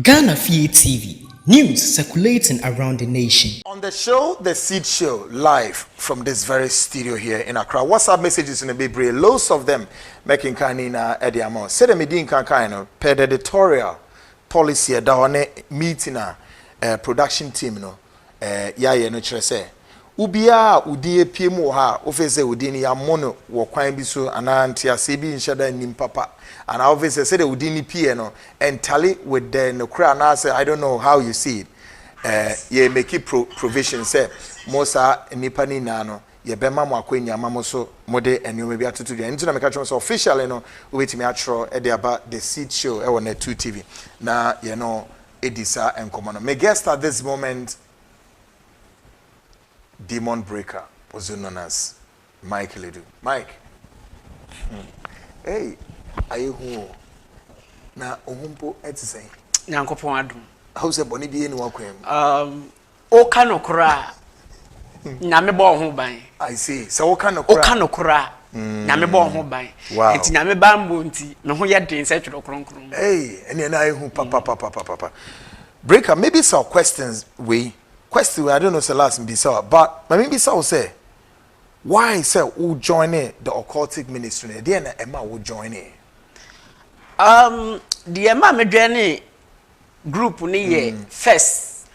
Ghana Fie TV, News circulating around the nation. On the show The Seed Show live from this very studio here in Accra. WhatsApp messages no bebree, loads of them. Mɛkenkan ne nyinaa de ama wo. Sɛdeɛ medi nkan kan no, per the editorial policy ɛda hɔ ne meeting a eh, production team no yɛayɛ no kyerɛ sɛ obiara a wo din apue mu wɔ ha a wofe sɛ wo din no yɛammɔ no wɔ kwan bi so anaa nteaseɛ bi nhyɛ da nnim papa anaa wofe sɛ sɛdeɛ wo din no pueɛ no ɛntale with the nokorɛ anaasɛ I don't know how you see it eh, yɛ make pro provision sɛ mo saa nnipa no nyinaa no yɛbɛma mo akwannya ama mo so mode nneɛma bi atoto dwa nti na meka kyerɛ mo sɛ officially no wobɛtumi atwerɛ de aba The Seed Show ɛwɔ Natu TV na yɛno di saa nkɔmmɔ no. Me guest at this moment, demon breaker, also known as Mike Ledu. Mike, hmm, hey, ayɛ hu o, na ohun po ɛte sɛn? Nyankopɔn adum. Ahu sɛ bɔne bi ɛni wakwan mu. Um, Woka nokora a, Nyame bɔ wo ho ban. I say, sɛ woka nokora. Woka nokora a, Nyame bɔ wo ho ban. Wow. Nti Nyame banbɔ nti, me ho yɛ den sɛ twerɛ kronkron. Hey, ɛne ɛna ehu papapapapapa. Breaker, maybe some questions wei. Question wei, I don't know sɛ last mbisa wa, but ma me mbisa wo sɛ, why sɛ wo join the occultic ministry no, ɛdeɛn na ɛma wo join? Um, deɛ ɛma me join group no yɛ first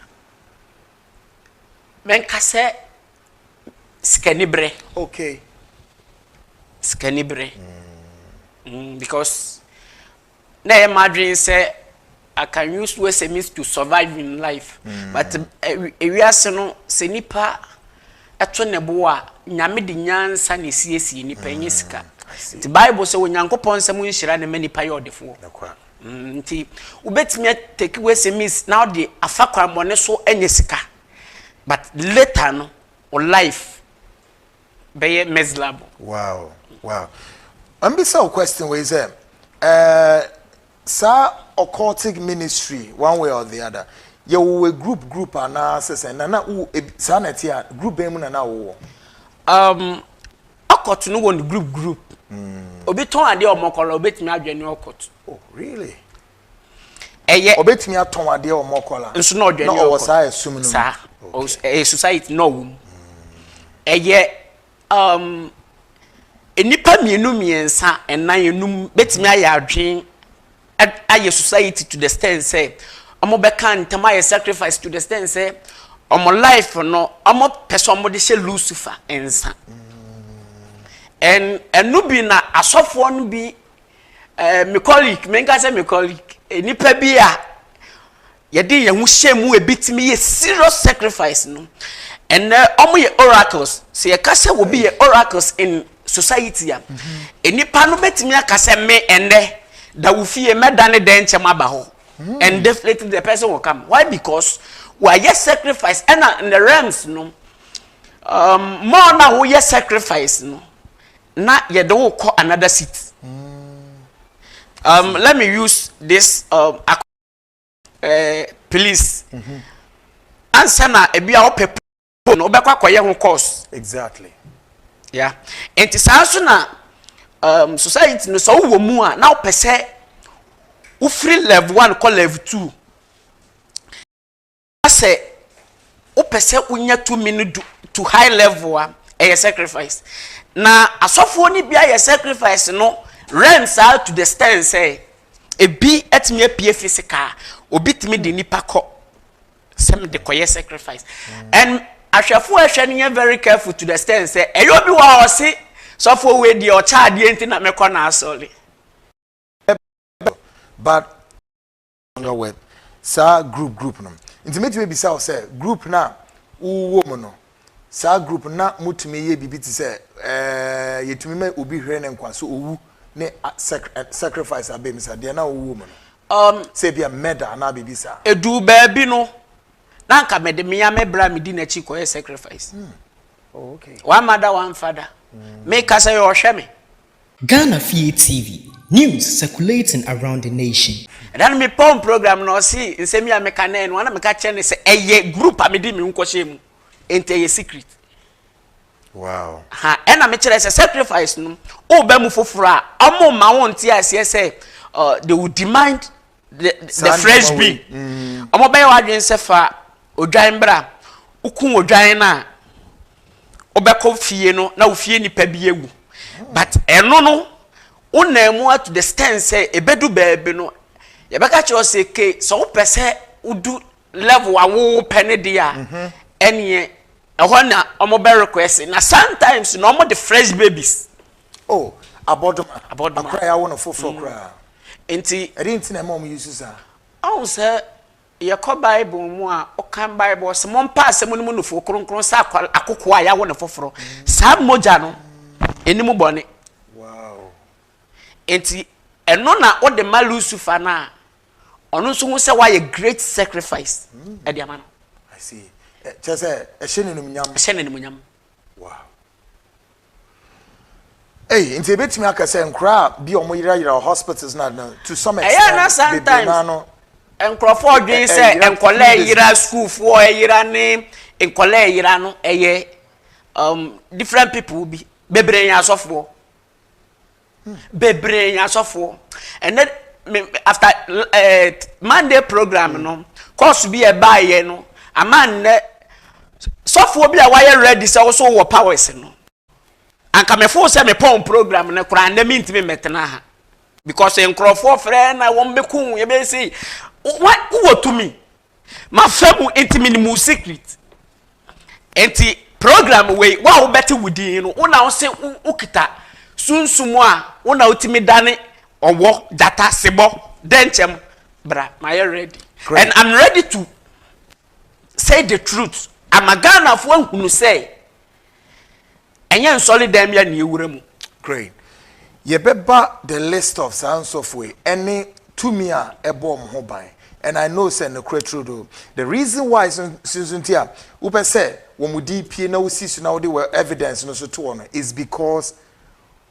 mɛnka sɛ sikaniberɛ okay sikaniberɛ mm, because na ɛyɛ m'adwene sɛ I can use USMIS to survive in life. Mm. But eh, ewiase no sɛ nipa ɛto ne bo a nyame de nyansa na esiesie nipa enye sika. Mm, nti Bible sɛ Onyankopɔn nsɛm nhyira ne ma nipa yɛ ɔdefoɔ. Mm, nti wobɛtumi atake wo sms na wode afa kwammɔne so anya sika but later no wo life bɛyɛ miserable wow wow ɔmbisa wo question wei sɛ uh, saa occultic ministry one way or the other yɛwowɔ group group anaasɛ sɛ nana wo saa na ɛte a group bɛn mu nana wowɔ um, Ɔkɔt no wɔ ne group group. Mm. Obi tɔn adeɛ ɔmɔ kɔla obetumi adwɛ ne ɔkɔt. Oh really? Ɛyɛ. Obetumi atɔn adeɛ ɔmɔ kɔla. Nso na ɔdwɛ ne ɔkɔt. Na ɔwɔ saa ɛsum no. Saa. Ɛyɛ society na ɔwɔ mu. Ɛyɛ um, nnipa mmienu mmiɛnsa ɛnan enum betumi ayɛ adwene ayɛ society to the stand sɛ ɔmo bɛka ntam ayɛ sacrifice to the stand sɛ ɔmo life no ɔmo pɛ sɛ ɔmo de hyɛ lucifer nsa ɛn ɛno bi na asɔfoɔ no bi ɛɛ eh, me colleague menka sɛ me colleague eh, nipa bi a. Yɛde yɛn ho hyɛɛ mu ebetumi yɛ serious sacrifice no. Ɛnnɛ ɔmo yɛ oracles. Sɛ yɛka sɛ obi yɛ oracles in society a, mm-hmm. nnipa no betumi aka sɛ me ɛnnɛ da wo fie mɛda ne dɛn nkyɛm aba hɔ. Mm. And definitely the person will come. Why? Because wɔayɛ sacrifice ɛna in the realms no um, more na woyɛ sacrifice no na yɛde wo kɔ another seat. Mm. Um, let me use this um, eh, please mm -hmm. ansa na ebi a wopɛ po no wobɛkɔ akɔyɛ ho course exactly yeah nti saa nso na um, society no sɛ wowɔ mu a na wopɛ sɛ wofiri level one kɔ level two na sɛ wopɛ sɛ wonya tumi no du to high level a ɛyɛ sacrifice na asɔfoɔ no bi ayɛ sacrifice no rent saa to the stand sɛ ebi atumi apue physical obi tumi de nipa kɔ sɛ mede kɔyɛ sacrifice and ahwɛfoɔ a ɛhwɛ no yɛ very careful to the stand sɛ ɛyɛ obi wɔ a ɔse sɔfoɔ wei deɛ ɔkyɛ adeɛ nti na mekɔ na asɔre but Ɔdɔ web saa group group no nti mɛtumi abisa wo sɛ group no a wowɔ mu no saa group no na motumi yɛ biribi te sɛ ɛɛ yɛtumi ma obi hwere ne nkwa so owu ne sacrifice abɛm sa deɛ na wowɔ mu no um, sɛ bia murder anaa biribi saa ɛduu baabi no na nka mede mmea me bra medi n'akyi kɔyɛ sacrifice hmm. oh, okay. one mother one father hmm. meka sɛ yɛ ɔhwɛ me Ghana fie TV, News circulating around the nation. Ɛda no me pɔn program no ɔse nsɛm yi a me ka nɛ no ana me ka kyerɛ no sɛ ɛyɛ group a me de me ho kɔ hyɛ mu nti ɛyɛ secret wow ha ɛna me kyerɛ sɛ sacrifice no o bɛ mu foforo a ɔmo ma wo nte aseɛ sɛ uh, they will demand the the fresh bean mm. ɔmo bɛyɛ wadwene sɛ fa odwan bra wokun odwan no a wobɛkɔ fie no na wo fie nipa bi awu but ɛno no wonam mu ato the stand sɛ ebedu baabi no yɛbɛka kyerɛ sɛ ke sɛ wopɛ sɛ wodu level a wopɛ ne deɛ a mhm. ɛneɛ ɛhɔ na wɔn bɛ request na sometimes na wɔn de fresh babies Oh, abɔdoma. Abɔdoma. Akora yɛawo no foforɔ koraa. Nti. Ɛdeɛ nti na ɛma wɔn use saa? Ɔhu sɛ yɛkɔ Bible mu a, ɔkan Bible ɔsɛ mo mpa asɛm no mu nufoɔ kronkron sɛ akokoɔ a yɛawo no foforɔ. Saa mogya no, ɛni mu bɔne. Wow. Nti ɛno na ɔde ma Lucifer no a, ɔno nso hu sɛ wayɛ great sacrifice ɛde ama no. I see. Kyerɛ sɛ ɛhyɛ n'animnyam. Ɛhyɛ n'animnyam. Wow. Ei, nti ebetumi aka sɛ nkoraa bi a wɔyerayera wɔ hospitals na no to some extent. Ɛyɛ na sometimes nkurɔfoɔ dwen sɛ nkɔlaa yera sukuufoɔ yera ne nkɔlaa yera no ɛyɛ um, different people bi bebree yɛ asɔfoɔ. bebree asɔfoɔ ɛnɛ me after ɛɛ eh, monday program mm. no course bi a ɛbaayɛ no ama nnɛ sɔfoɔ bi a wayɛ ready sɛ woso wɔ powers no anka mefo sɛ mepɔn program no koraa nnɛ mentumi mmɛtena ha because nkurɔfoɔ frɛ na wɔn bɛku yɛbɛsi wowɔ tumi M'afamu nti menim wo secret Nti program wei wo a wobɛte wo din no wo na wo se wo kita sunsum a wo na wotumi dane ɔwɔ gyata sebɔ dɛnkyɛm bra mayɛ ready and I'm ready to say the truth ama Ghanafoɔ ahunu sɛ ɛnyɛ nsɔre dan bi a na yɛwura mu. Great. Yɛbɛba the list of saa nsɔfo yi ɛne tumi a ɛbɔ wɔn ho ban. And I know sɛ nokorɛ true do. The reason why nso nti a wopɛ sɛ wɔn din pie na wosi so na wode wɔ evidence no nso to hɔ no is because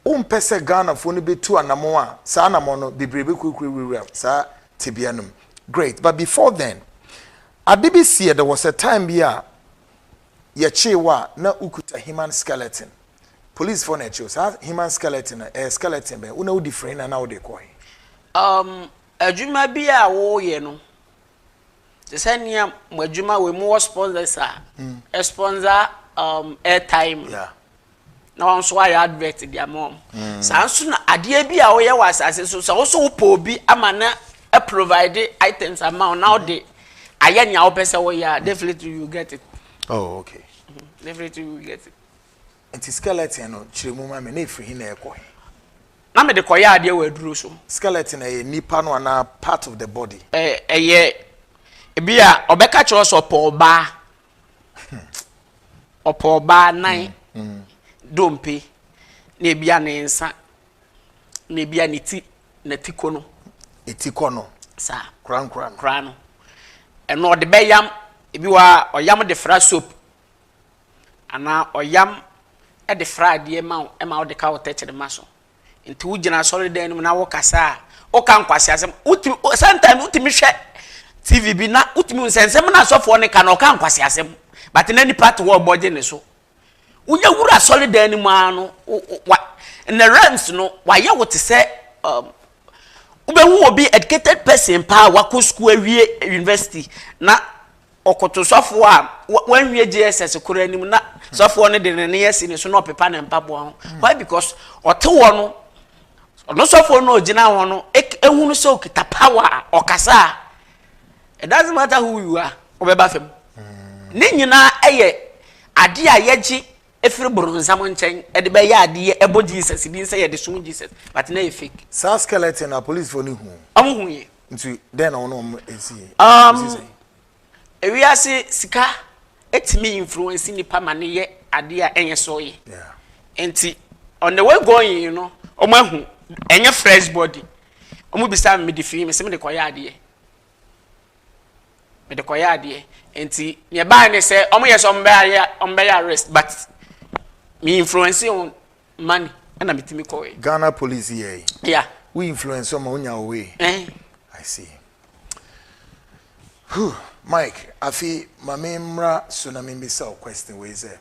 wompɛ sɛ Ghanafoɔ no bɛtu anamɔn a saa anamɔn no bebree bɛkurakura wurawura saa tebea no mu. Great. But before then, ade bi siiɛ, there was a time bi a Yɛkyee wo a na wokuta human skeleton. Polisfoɔ na ɛkyee wo. Saa human skeleton no, ɛyɛ skeleton bɛn? Wo na wodi firi he na na wode rekɔ he? Um, adwuma bi a woyɛ no, te sɛ nea mo adwuma wei, mowɔ sponsors a ɛsponsor um, airtime no. Yeah. na wɔn nso ayɛ advert de ama wɔn mm. saa nso na adeɛ bi a wɔyɛ wɔ asase so sɛ wɔso wopɔ obi ama na provide items ama wɔn na wɔde ayɛ nea wɔpɛ sɛ wɔyɛ a definitely you get it. oh okay. Mm -hmm. definitely you get it. nti skeleton no kyerɛ mu ma mi na efiri hin na ɛkɔ hin. na mi de kɔ yɛ adeɛ wɔ aduro so. skeleton ɛyɛ nipa no anaa part of the body. ɛɛ ɛyɛ ebi a ɔbɛka kyerɛ sɛ ɔpɔ ɔbaa. Ɔpɛ ɔbaa nan dompe na ebia ne nsa na ebia ne ti na ti kɔ no. Eti kɔ no. Sa. Korankora no. Kora no. Ɛno ɔde bɛyam ebi wɔ a ɔyam de fra soap anaa ɔyam de fra adeɛ ma wo ma wode ka wo tɛkyerema so. Nti wogyina asɔredan no mu na wokasa a, woka nkwaseasɛm. Wotumi o sometimes wotumi hwɛ TV bi na wotumi hu sɛ nsɛm na asɔfoɔ no ka no ɔka nkwaseasɛm but na nipa te hɔ ɔbɔ gye ne so. Wonya wura asɔredan no mu ara no wo wo wa nnɛ realms no wayɛ wo te sɛ um, wobɛhu obi educated person paa wakɔ sukuu awie university na Ɔkoto sɔfoɔ a wanwie JSS koro anim na sɔfoɔ no de ne ne asi ne so na ɔpepa ne mpaboa ho. Hmm. Why? Because ɔte hɔ no, ɔno sɔfoɔ no ɔgyina hɔ no, ehunu sɛ ɔkita power a ɔkasa a, it doesn't matter who you are, ɔbɛba fam. Hmm. Ne nyinaa ɛyɛ adeɛ a yɛgye efiri boronsam nkyɛn ɛde bɛyɛ adeɛ ɛbɔ Jesus din sɛ yɛde som Jesus but na yɛ fake. Saa skeleton na policefoɔ no hu. Ɔmo hu yɛ. Nti dɛn na wɔn wɔn esi yɛ? Um, ewiase sika etimi influence nipa ma ne yɛ ade a ɛnyɛ so yɛ. Yeah. Nti on the way going you know, wɔn ahu ɛnyɛ fresh body. Wɔn bisa mi de fi mi sɛ mi de kɔ yɛ adeɛ. Mi de kɔ yɛ adeɛ. Nti nea ɛbaa ne sɛ wɔn yɛ sɛ wɔn bɛyɛ wɔn bɛyɛ arrest but mi influence wɔn money ɛna me timi kɔ wɛ. Ghana police yɛ yi. Yeah. Wo influence ɔma onya wo way. Eh. I see. Huh. Mike, afi ma me mmra so na me bisa wo question wei sɛ.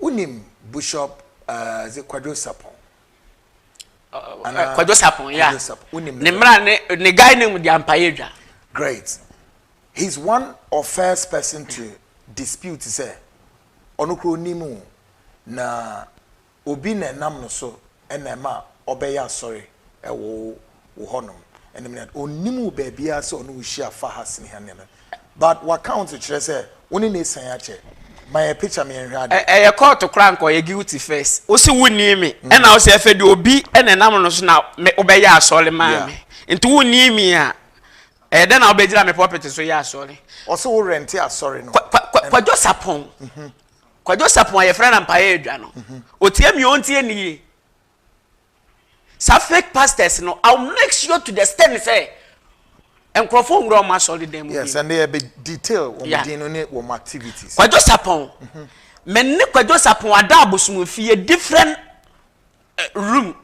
Wonim Bushop uh, ze Kwadwo Sapon. Kwadwo Sapon, yeah. Kwadwo Sapon. Wonim ne mmra ne ne guy ne mu di ampaye dwa. Great. He's one of first person to dispute sɛ ɔno kuro ni mu na obi na ɛnam no so na ɛma ɔbɛyɛ asɔre wɔ wo hɔnom. Ɛnam nea onnim wo baabiara sɛ ɔne wo hyia fa ha sene ha ne nneɛma bi. But w'account kyerɛ sɛ wo ne no asian akyɛ. Ma yɛn picture ma yɛnhwɛ ade. Ɛyɛ court koraa nka ɔyɛ guilty first. Wo se wo nni me ɛna wo se ɛfɛ deɛ obi na ɛnam no so na me wo bɛyɛ asɔre ma me. Yeah. Nti wo nni me a ɛyɛ dɛn na wo bɛgyina me pulpit so yɛ asɔre. Ɔse wo rente asɔre no. Kwa, kwa, kwa, Kwadwo Sapɔn. Kwadwo Sapon a yɛfrɛ no Mpaeɛ Adwa no, ɔtie me ɔntie ne yie. Saa fake pastors no, I'll make sure to the extent sɛ nkurɔfoɔ nwura wɔn asɔre dan mu bi. Yes, and they be detail wɔn yeah. din no ne wɔn activities. Kwadwo Sapon, mm-hmm. me ne Kwadwo Sapon ada abosom fie different uh, room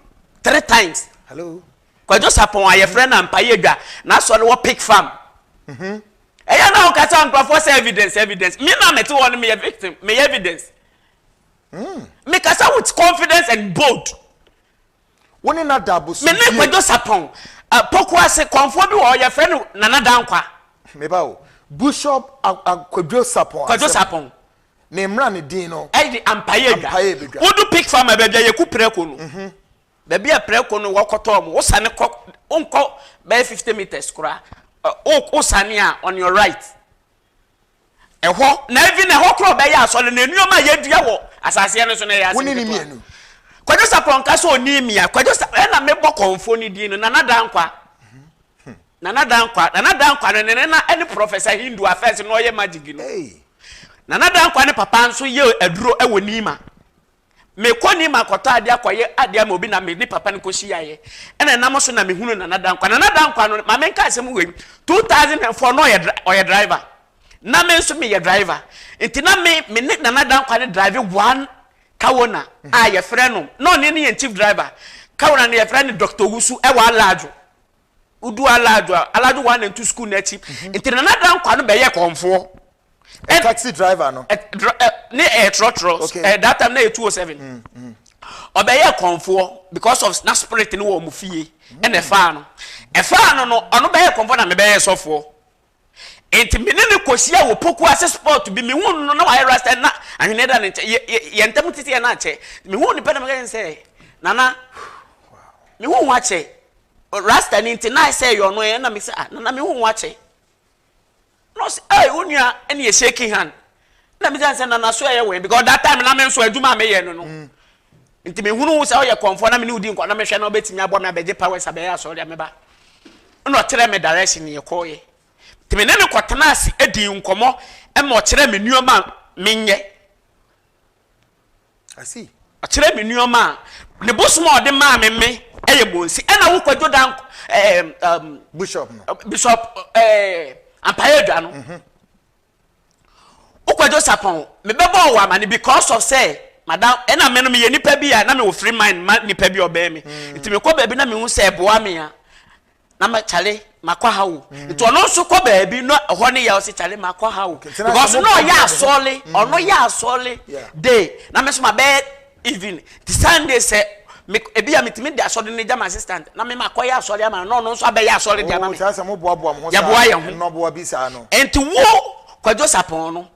three times. Hello. Kwadwo Sapon a yɛfrɛ no Mpaeɛ Adwa, n'asɔre wɔ Pick Farm. Mm-hmm. Ɛyɛ na woka kyerɛ nkurɔfoɔ sɛ evidence, evidence. Me na mete hɔ no meyɛ victim, meyɛ evidence. Mekasa with confidence and bold. Wo ne Nada abosom fie. Me ne Kwadwo Sapɔn. Poku ase kɔnfoɔ bi wɔ hɔ yɛfrɛ no Nana Dankwa. Meba o. Bishop Kwadwo Sapɔn. Kwadwo Sapɔn. Ne mmra ne din no. Ɛyɛ ampaeɛ adwa. Ampaeɛ bɛdwa. Wodu pig farmer baabi a yɛku prɛko no. Mhm. Baabi a prɛko no wɔkɔtɔɔ mo, wosane kɔ, wonkɔ bɛyɛ fifty metres koraa, wo, wosane a, on your right. Ɛhɔ, na even ɛhɔ koraa ɔbɛyɛ asɔre no, nneɛma a yɛadua wɔ asaseɛ no so no ɛyɛ asɛm ketewa. Kwadwo Sapɔ nka sɛ ɔni mi a, Kwadwo Sapɔ, ɛna mebɔ kɔmfoɔ no din no, Nana Dankwa. Nana Dankwa, Nana Dankwa no ne nena ɛne Professor Hindu a fɛs na ɔyɛ magic no. Nana Dankwa ne papa nso yɛ aduro ɛwɔ Nima. Mekɔ nim akɔtɔ adeɛ akɔyɛ adeɛ ama obi na me ne papa no kɔhyiaeɛ ɛna ɛnam so na mehunu Nana Dankwa. Nana Dankwa no, ma menka asɛm wei, 2004 na ɔyɛ ɔyɛ driver na me nso meyɛ driver nti na me me ne Nana Dankwa no drive one Kawona a yɛfrɛ no na ɔne ne yɛn chief driver Kawona no yɛfrɛ no Dr. Wusu ɛwɔ Alaadwo. Wodu Alaadwo a, Alaadwo One and Two School no akyi. Nti Nana Dankwa no bɛyɛ kɔmfoɔ. Ɛ- Taxi driver no. Ɛ- dr- ɛ, ne ɛyɛ trɔtrɔ. Okay. Ɛ, that time na ɛyɛ 207. Ɔbɛyɛ kɔmfoɔ because of na spirit no wɔ wɔn fie. Ɛna ɛfaa no. Ɛfaa no no, ɔno bɛyɛ kɔmfoɔ na mebɛyɛ sɔfoɔ. Enti me ne no kohyiaa wɔ poku ase spot bi. Mehuu no no, na wayɛ rasta na ahweneɛ da ne nkyɛn. Yɛ, yɛ, yɛn ntam tete yɛn akyɛ. Mehuu no pɛ na meka kyerɛ no sɛ, Nana, mehu wo akyɛ. Rasta ni nti, na ayɛ sɛ ɛyɛ ɔno ɛ, ɛna meka sɛ, ah, Nana, mehu wo akyɛ. Na ɔse, ei, wo nua, ɛne yɛ shaking hand. Ɛna misa no sɛ, Nana, so ɛyɛ wo he? Because that time na me nso adwuma a meyɛ no no, mm. nti mehunu wo sɛ woyɛ kɔmfoɔ na me ne wo di nkɔ na mehwɛ na wobɛtumi abɔ me abɛgye powers abɛyɛ asɔre a meba. Ɛna ɔkyerɛ me direction ne yɛkɔɔyɛ. Nti me ne no kɔtena ase adi nkɔmmɔ ɛma ɔkyerɛ me nneɛma a menyɛ. I see. Ɔkyerɛ me nneɛma a ne bosom a ɔde maa me me ɛyɛ monsi ɛna wokɔ dwo dan ɛɛ bishop no bishop ɛɛ ampaeɛ adwa no. Mm -hmm. Wo kwadwo sapɔn me bɛ bɔɔ wo amane because of sɛ madam ɛna me no me yɛ nipa bi a na me wɔ free mind ma nipa bi ɔbɛn me mm. nti me kɔ baabi na me hu sɛ ɛboa me a na ma kyale ma kɔ ha wo mm. nti ɔno nso kɔ baabi na ɛhɔ ne yɛ ɔsi kyale ma kɔ ha wo because na ɔyɛ asɔle mm. ɔno yɛ asɔle de na me nso ma bɛyɛ Even ti Sunday sɛ me ebi a metumi de asɔre no gya ma assistant na me ma kɔyɛ asɔre ama no na ɔno nso abɛyɛ asɔre de ama me. Ɔkyerɛ sɛ mo boaboa mo ho saa. Yɛboa yɛn ho. Nnɔboa bi saa no. Nti wo Kwadwo Sapɔn no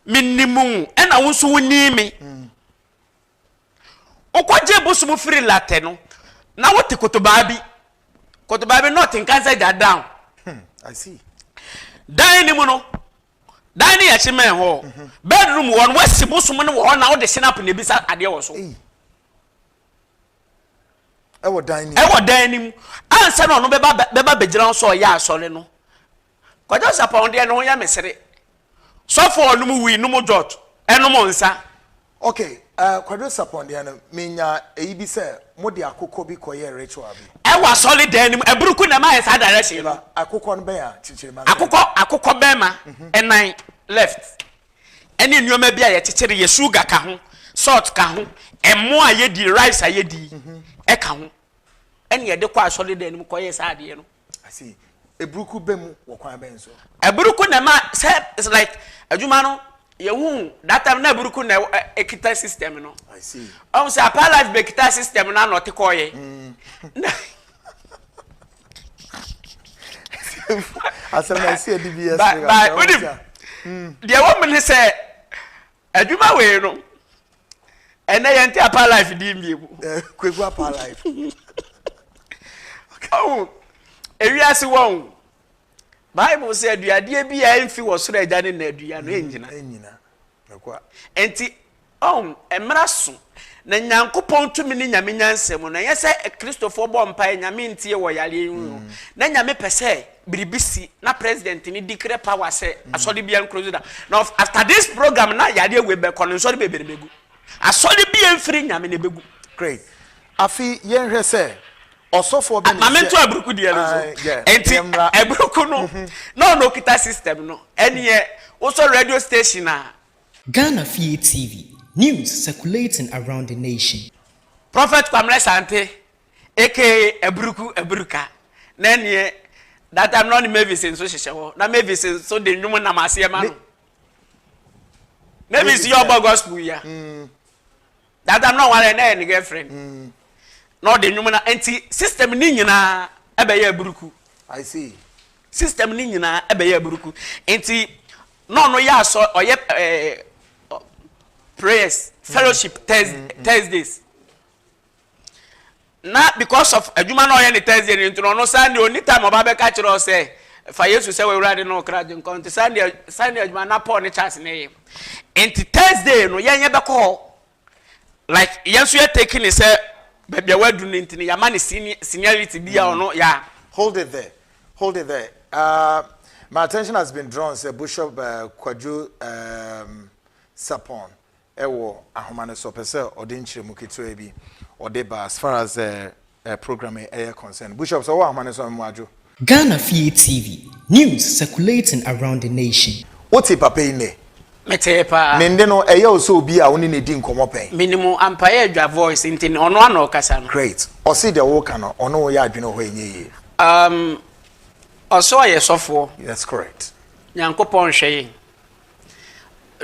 menim wo ɛna wo nso wo nim me. Mm. Wokɔgye bosom firi latɛ no na wote kotobaa bi kotobaa bi na ɔte nkansa gya down. Hmm, I see. Dan ne mu no Dan ne yɛkye mɛn hɔ bedroom wɔ no wasi bosom no wɔ hɔ na wode sinap na ebisa adeɛ wɔ so ɛwɔ dan nim ɛwɔ dan nim ansa na ɔno bɛba bɛba bɛgyina wo sɛ ɔyɛ asɔre no kwadwo sapɔn deɛ ne ho yɛ mesere sɔfo ɔnom wui nom dwɔt ɛnom nsa Ok eh Kwadwo Sapon deɛ no me nya eyi bi sɛ mo de akokɔ bi kɔ yɛ ritual bi. Ɛwɔ asɔre dan no mu, aburuku na ɛma ayɛ saa direction no. Akokɔ no bɛn a kyekyere ma sɛn. Akokɔ akokɔ bɛma ɛnan left ɛne nnoɔma bi a yɛkyekyere yɛ sugar ka ho, salt ka ho, ɛmo a yɛdi, rice a yɛdi ɛka ho ɛne yɛde kɔ asɔre dan no mu kɔ yɛ saa adeɛ no. ase eburuku bɛ mu wɔ kwan bɛn so. eburuku na ɛma sɛ it's like adwuma no yɛhu that time na eburuku na ɛwɔ- ɛ- ekita system no i see ɔn sɛ apaa life bɛ kita system no anɔ te kɔɔ yɛ na asɛm na ɛsɛ ɛdi bi yɛ ba sere ba asɛm wonim ɔte a deɛ ɛwɔ mu ne sɛ Adwuma wei no ɛnɛ yɛn ti apa life di mbie mu. Eh, Kweku apa life. Ɔkàwù ewiase wɔn Bible sɛ aduadeɛ bi a ɛnfi wɔ soro agya ne na adua no ɛnyina. Mm, ɛnyina. Nti ɔn mmara so na nyankopɔn tumi ne nyame nyansɛm no ɛnyɛ sɛ kristofoɔ bɔ mpae nyame ntie wɔ yareɛ yi ho mm. na nyame pɛ sɛ biribi si na president ni declare power sɛ mm. asɔre bia nkuro da na after this program na yadeɛ wei bɛkɔ no nsɔre bebree na bɛgu asɔre bia mfiri nyame na ɛbɛgu great afi yɛnhwɛ sɛ ɔsɔfoɔ bɛ ne sɛ maame nto aburuku deɛ no so nti aburuku no mhm. na ɔno okita system no ɛneɛ wosɔ radio station a Ghana Fie TV, news circulating around the nation. Prophet Kwamre Sante, aka aburuku aburuka, na ɛneɛ that time na ɔne Mavis nso hyehyɛ hɔ na Mavis nso de nnwom nam aseɛ ma no Mavis yɛ ɔbɔ gospel yia mm. that time na ɔware na ɛyɛ ne girlfriend mm. na ɔde nnwom na nti system ne nyinaa ɛbɛyɛ aburuku I see system ne nyinaa ɛbɛyɛ aburuku nti na ɔno yɛ asɔ ɔyɛ ɛɛ eh, prayers fellowship mm, mm, mm. thursdays na because of adwuma na ɔyɛ ne Thursday no nti no ɔno Sunday ɔni time ɔba bɛka kyerɛ wo sɛ fa Yesu sɛ w'awurade ne wo kra gye nkwa nti Sunday Sunday adwuma na Paul ne Charles na ɛyɛ nti Thursday no yɛn yɛbɛkɔ hɔ like yɛn nso yɛ take ne sɛ baabi a wadu no nti no yɛama ne seniority bi a mm. ɔno yɛ hold it there hold it there uh, my attention has been drawn sɛ Bishop uh, Kwadwo um, Sapon wɔ ahoma no so, ɔpɛ sɛ ɔde nkyerɛmu ketewa bi ɔde ba as far as eh program yi yɛ concern. Bushop sɛ ɔwɔ ahoma no so a mmoa dwo. Ghana Fie TV, News circulating around the nation. Wo te papa yi nnɛ? Me tee paa. Ne nne no, ɛyɛ wo sɛ obi a wo ne no di nkɔmmɔ pɛn? Menim wo ampa ɛyɛ Dwa voice nti no, ɔno ara na ɔkasa no. Great. Ɔse deɛ woka no, ɔne wo yɛ adwene wɔ hɔ a ɛnyɛ yie. Um, ɔse ɔyɛ sɔfoɔ. That's correct. Nyankopɔn nhwɛ yɛn.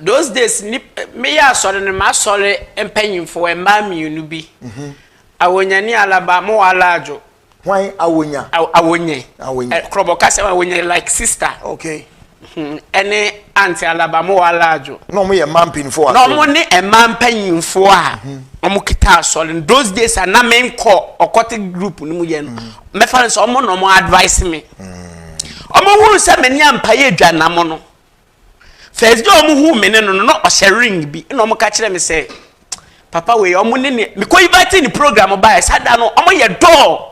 Those days nip meyɛ asɔre no m'asɔre mpanyinfo mmaa mmienu bi. Mhm. Awonya ne Alaba mo wɔ Alaadwo. Hwan Awonya? Aw Awonye. Awonye. Ɛ Korɔbɔ kasa mu Awonye like sister. Okay. Hmm, Ɛne Aunt Alaba mo wɔ Alaadwo. Na wɔn yɛ mmaa mpanyinfoɔ wɔ Na asɔre wɔn mu. ne mmaa mpanyinfoɔ a wɔn kita asɔre no. Those days a na me nkɔ ɔkɔte group no mu yɛ no, mɛfa no sɛ wɔn na wɔn advice me. Wɔn hunu sɛ me ne Ampaye Adwanamo no, First day a wɔn hu me ne no no na ɔhyɛ ring bi na wɔn ka kyerɛ me sɛ papa wei wɔn ne ne mekɔ invite ne program baeɛ saa da no wɔn yɛ dɔɔ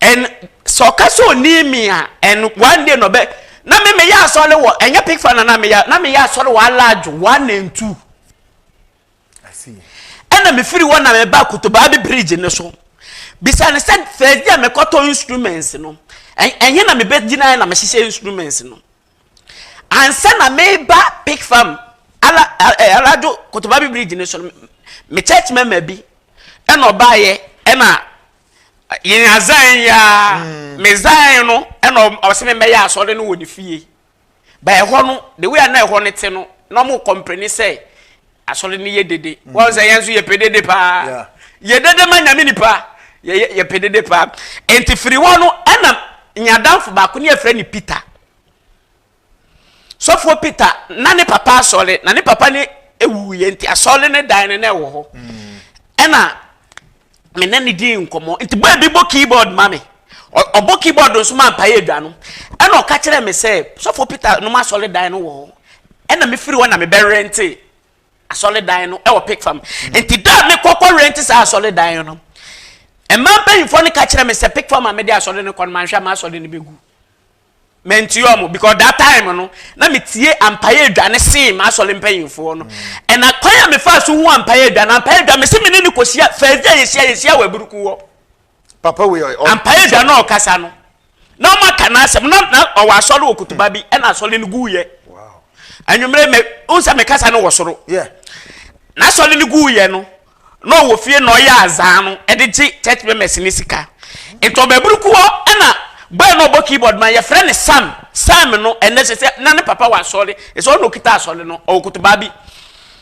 and sɛ ɔka sɛ ɔni mi a and one day na ɔbɛ na me meyɛ asɔre wɔ ɛnyɛ pig fan na meyɛ na meyɛ asɔre wɔ alaadwo one and two. ɛna mefiri hɔ na meba kotobaabi bridge no so bisa no sɛ fɛdi a mekɔtɔ instruments no ɛnyɛ na mebɛgyina na mehyehyɛ instruments no ansa na meba pick farm ala alado kotobaabi bridge no so no me church mɛma bi ɛna ɔbaayɛ ɛna yɛn azan yɛ a mm. me zan no ɛna ɔsɛ me mɛyɛ asɔre no wɔ ne fie But ɛhɔ no, the way a na ɛhɔ no te no, na wɔn kɔmpleni sɛ asɔre no yɛ dede. Mm. Wɔn sɛ yɛn nso yɛpɛ dede paa. Yɛ dede ma nyame nipa. Yɛ yɛpɛ dede paa. Nti firi hɔ no, ɛna nyadamfo baako ne yɛfrɛ ne Peter. Sɔfoɔ Peter na ne papa asɔre na ne papa ne ewuiɛ nti asɔre ne dan no na ɛwɔ hɔ. Mm. Ɛna me ne no dii nkɔmmɔ nti bɔɔ bi bɔ keyboard ma me ɔbɔ keyboard nso ma mpaeɛ adwa no ɛna ɔka kyerɛ me sɛ sɔfo peter nom asɔredan no wɔ hɔ ɛna mefiri hɔ na mebɛrente asɔredan no ɛwɔ pek fam nti da a mekɔkɔ rente saa asɔredan no mmaa mpanyinfoɔ no ka kyerɛ me sɛ pek fam a mede asɔre no kɔ no manhwɛ a m'asɔre no bɛgu Mɛntie wɔn because that time no na metie ampaeɛ adwa ne sen m'asɔre mpanyinfoɔ no ɛna kwan a mefaa so hu ampaeɛ adwa na ampaeɛ adwa mese me ne ne kɔhyia first day a yɛhyia yɛhyia wɔ aburuku hɔ papa wei ampaeɛ adwa na ɔkasa no na ɔma ka n'asɛm na na ɔwɔ asɔre wɔ kutuba bi ɛna asɔre no guuyɛ anwummerɛ mɛ nsɛ mekasa no wɔ soro n'asɔre no guuyɛ no na ɔwɔ fie na ɔyɛ adze a no de gye church members ne sika. Ntsi ɔbabur kuhɔ na boy na ɔbɔ keyboard ma yɛfrɛ no Sam. Sam no ndɛ sesei na ne papa wɔ asɔr, sɛ ɔna okitsa asɔr no, ɔwɔ kotobaa bi.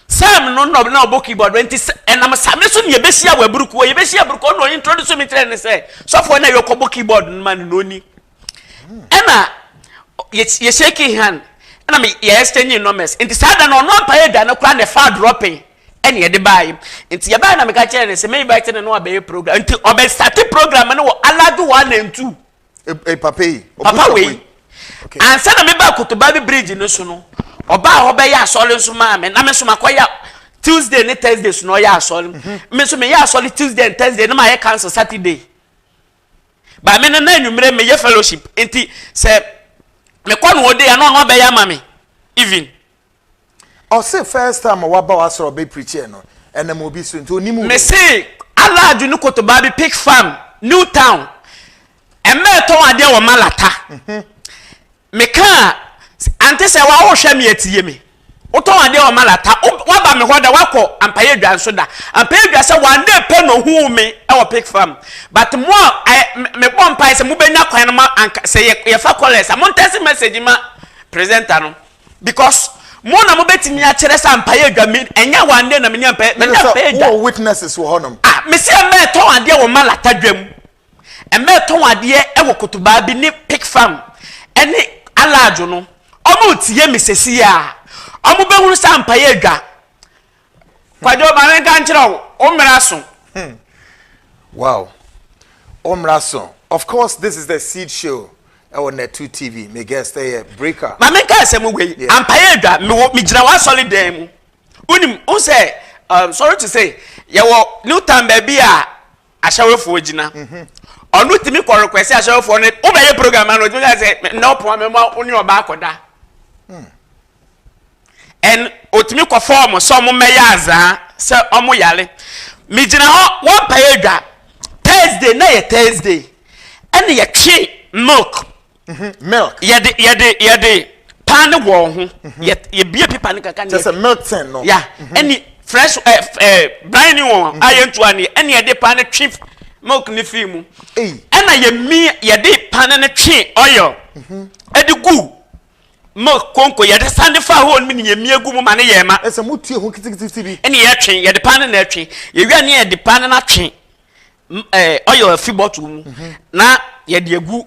Sam no na na ɔbɔ keyboard ntsi nam Same so na yɛbehyia wɔ abur kuhɔ. Yɛbehyia abur kuhɔ na ɔye introduce me kyerɛɛ no sɛ sɔfo a na yɛkɔ bɔ keyboard no ma no na ɔnyi. Nna yɛ shake hand na me yɛ exchange numbers. Ntsi saa da no ɔnoa mpae eduane koraa na ɛfaa dropping. ɛna yɛde baeɛ nti yɛbaeɛ na meka kyerɛ no sɛ me invite no no abɛyɛ program nti ɔbɛstate program no wɔ alado one and two e, e, papa yi papa wei okay. ansa na meba kotoba bi bridge no so no ɔbaa hɔ bɛyɛ asɔre nso maa me na me nso makɔyɛ tuesday ne thursday so na ɔyɛ asɔre mhm. me nso meyɛ asɔre tuesday and thursday na mayɛ council saturday ba me no na anwummerɛ meyɛ fellowship nti sɛ mekɔ no ɔde a na ɔno abɛyɛ ama me even Ɔse first time a waba w'asɔre ɔbɛ preachiɛ no ɛnam obi so nti onim wo. Mese alaajo ne kotobaa bi pick farm new town ɛmɛ ɛtɔn adeɛ wɔ malata mhm. mekaa ante sɛ wa wohwɛ me atie me wotɔn adeɛ wɔ malata waba me hɔ da wakɔ ampayɛ dwa nso da ampayɛ dwa sɛ one day pɛ na ohuu me ɛwɔ pick farm but mo a mebɔ mpae sɛ mobɛnya kwan no ma sɛ yɛfa kɔlɛs a montɛse message ma presenter no because mo na mo betumi akyerɛ sɛ ampaeɛ adwa mi ɛnyɛ wɔn adeɛ na mi ni ampaeɛ mi ni ampaeɛ adwa. wɔ witnesses wɔ hɔnom. ah mesi ɛmɛ ɛtɔn adeɛ wɔ malata dwam ɛmɛ ɛtɔn adeɛ ɛwɔ kotobaa bi ne pick farm ɛne alaadwo no wɔn retie mi sɛsi a wɔn bɛhunu sɛ ampaeɛ adwa Kwadwo ma me nka nkyerɛ wo, wo mmara so. Hmm. Wow. Wo mmara so. Of course, this is the Seed Show. ɛwɔ Netu TV. My guest ɛyɛ eh, Breaker. Maame nka asɛm wei. Ampaeɛ adwa mewɔ megyina w'asɔre dan mu. Wonim wo sɛ um, sorry to say yɛwɔ new town baabi a ahyɛwefoɔ gyina. Mhm. Ɔno tumi kɔ request ahyɛwefoɔ no wobɛyɛ program ano ɔtumi ka sɛ nnɛ ɔpɔn mɛma wo ne ɔba akɔda. Hmm. and otumi kɔfa wɔn sɛ wɔn mmɛyɛ azaa sɛ wɔn yare me gyina hɔ wɔ mpaeɛ adwa thursday na yɛ thursday ɛna yɛtwe milk mm-hmm. milk yɛde yɛde yɛde paa ne wɔn ho mm-hmm. yɛ yɛbie pepa ne kaka ne yɛ sɛ milk ten no ya mm-hmm. ɛne fresh ɛɛ eh, ɛɛ eh, brine wɔn a yɛn ntua ne ɛne yɛde paa ne twe milk ne fii mu ɛna yɛ mi yɛde paa ne ne twe oil ɛde gu. Mo konko yɛde san de faa hɔ nom ne yɛn mia gu mu ma no yɛɛ ma. Ɛsɛ mo tue ho kitikititi bi. Ɛne yɛ twe, yɛde paa no na ɛtwe. Yɛwie a ne yɛde paa no na twe ɛɛ oil afi bottle mu na yɛde agu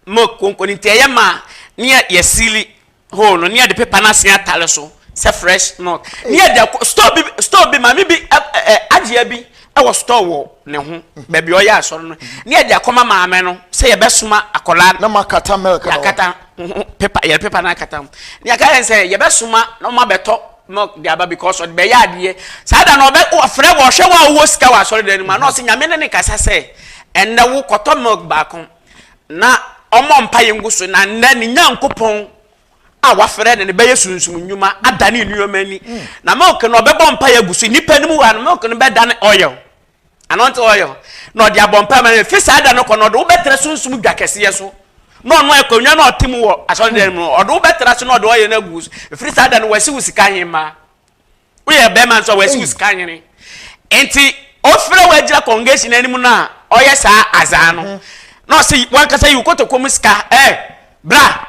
mo konko no nti ɛyɛ ma ne yɛ yɛ seali hole no ne yɛde pepa no asen atare so sɛ fresh milk ne yɛde akɔ store bi store bi maame bi ɛ ɛ agyea bi ɛwɔ store wɔ ne ho baabi ɔyɛ asɔre no ne yɛde akɔma maame no sɛ yɛbɛsoma akɔla na ma kata milk na kata pepa yɛde pepa na akata ho ne yɛka yɛn sɛ yɛbɛsoma na ɔma bɛtɔ milk de aba because ɔde bɛyɛ adeɛ saa da na ɔbɛ ɔfrɛ wɔ ɔhwɛ wɔ a ɔwɔ sika wɔ asɔre dan no mu na ɔsɛ nyame ne ne kasa sɛ ɛnɛ wo kɔtɔ milk baako na ɔmɔ mpa yɛn gu so na nnɛ ne nyankopɔn a wafrɛ no no bɛyɛ sunsum nnwuma adane nneɛma ani na milk no ɔbɛbɔ mpaeɛ agu so nnipa no mu wɔ ano milk no bɛdane oil anɔnte oil na ɔde abɔ mpaeɛ ma no fi saa da no kɔ no ɔde wobɛtra sunsum dwa kɛseɛ so na ɔno akonnwa no ɔte mu wɔ asɔredan mu no ɔde wobɛtra so na ɔde oil no agu so ɛfiri saa da no wasi wo sika hemaa woyɛ bɛrima nso a wɔasi wo sika nwene nti ɔfrɛ woagyina congregation anim no a ɔyɛ saa azaa no mhm. na ɔsɛ wankasa yi wo kotoko mu sika ɛ bra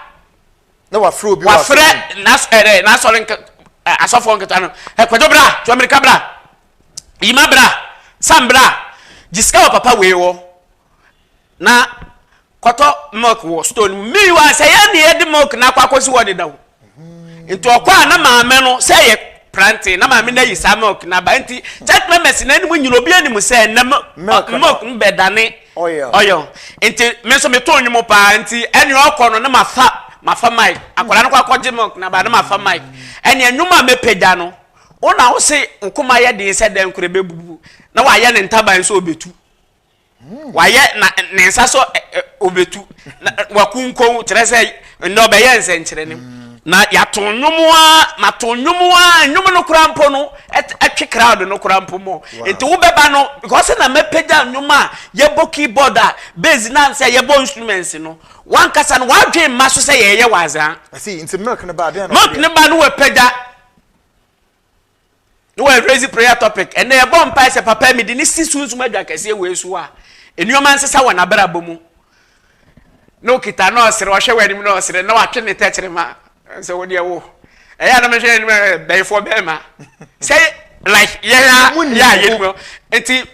na wafrɛ obi wafrɛ n'asɔre asɔfoɔ nketa no ɛkwadwo bra tuamirika bra yima bra sam bra gye sika wɔ papa wei wɔ Na kɔtɔ milk wɔ store no mu meanwhile sɛ yɛn ne yɛde milk na akɔ akɔsi hɔ dedaw nti ɔkɔ a na maame no sɛ yɛ prante na maame no ayi saa milk na ba nti church members na anim nyina obi anim sɛ na milk no bɛdane ɔyɔ nti me nso meto nnwom paa nti ɛne ɔkɔ no na mafa mafa mic akwadaa no kɔ akɔgye milk na ba na mafa mic ɛne nnwom a mɛpagya no wo na wo se nkoma yɛ den sɛ dɛn korɛ bɛbubu na wayɛ ne ntaban sɛ ɔbɛtu Wayɛ na ne nsa so obetu na wakunkɔn kyerɛ sɛ nnɛ ɔbɛyɛ nsɛnkyerɛnne mu. Na yɛato nnwom a mato nnwom a nnwom no koraa mpo no twe crowd no koraa mpo mu. Nti wobɛba no because na mɛpagya nnwom a yɛbɔ keyboard a bass na sɛ yɛbɔ instruments no wankasa no wadwen mma so sɛ yɛyɛ wazaa. Ɛsi nti milk no ba adeɛ na. Milk no ba no wɔ pagya. ne wɔyɛ crazy prayer topic ɛnna yɛbɔ mpae sɛ papa mi de ne si sunsum adwa kɛseɛ wɔ esu a nneɛma nsesa wɔ n'abrabɔ mu na okita na ɔsere ɔhwɛ wɔ anim na ɔsere na watwe ne tɛkyerɛma sɛ wɔ deɛ wo ɛyɛ anam hwɛ anim bɛyifoɔ bɛrima sɛ like yɛn a yɛ a yɛn mu nti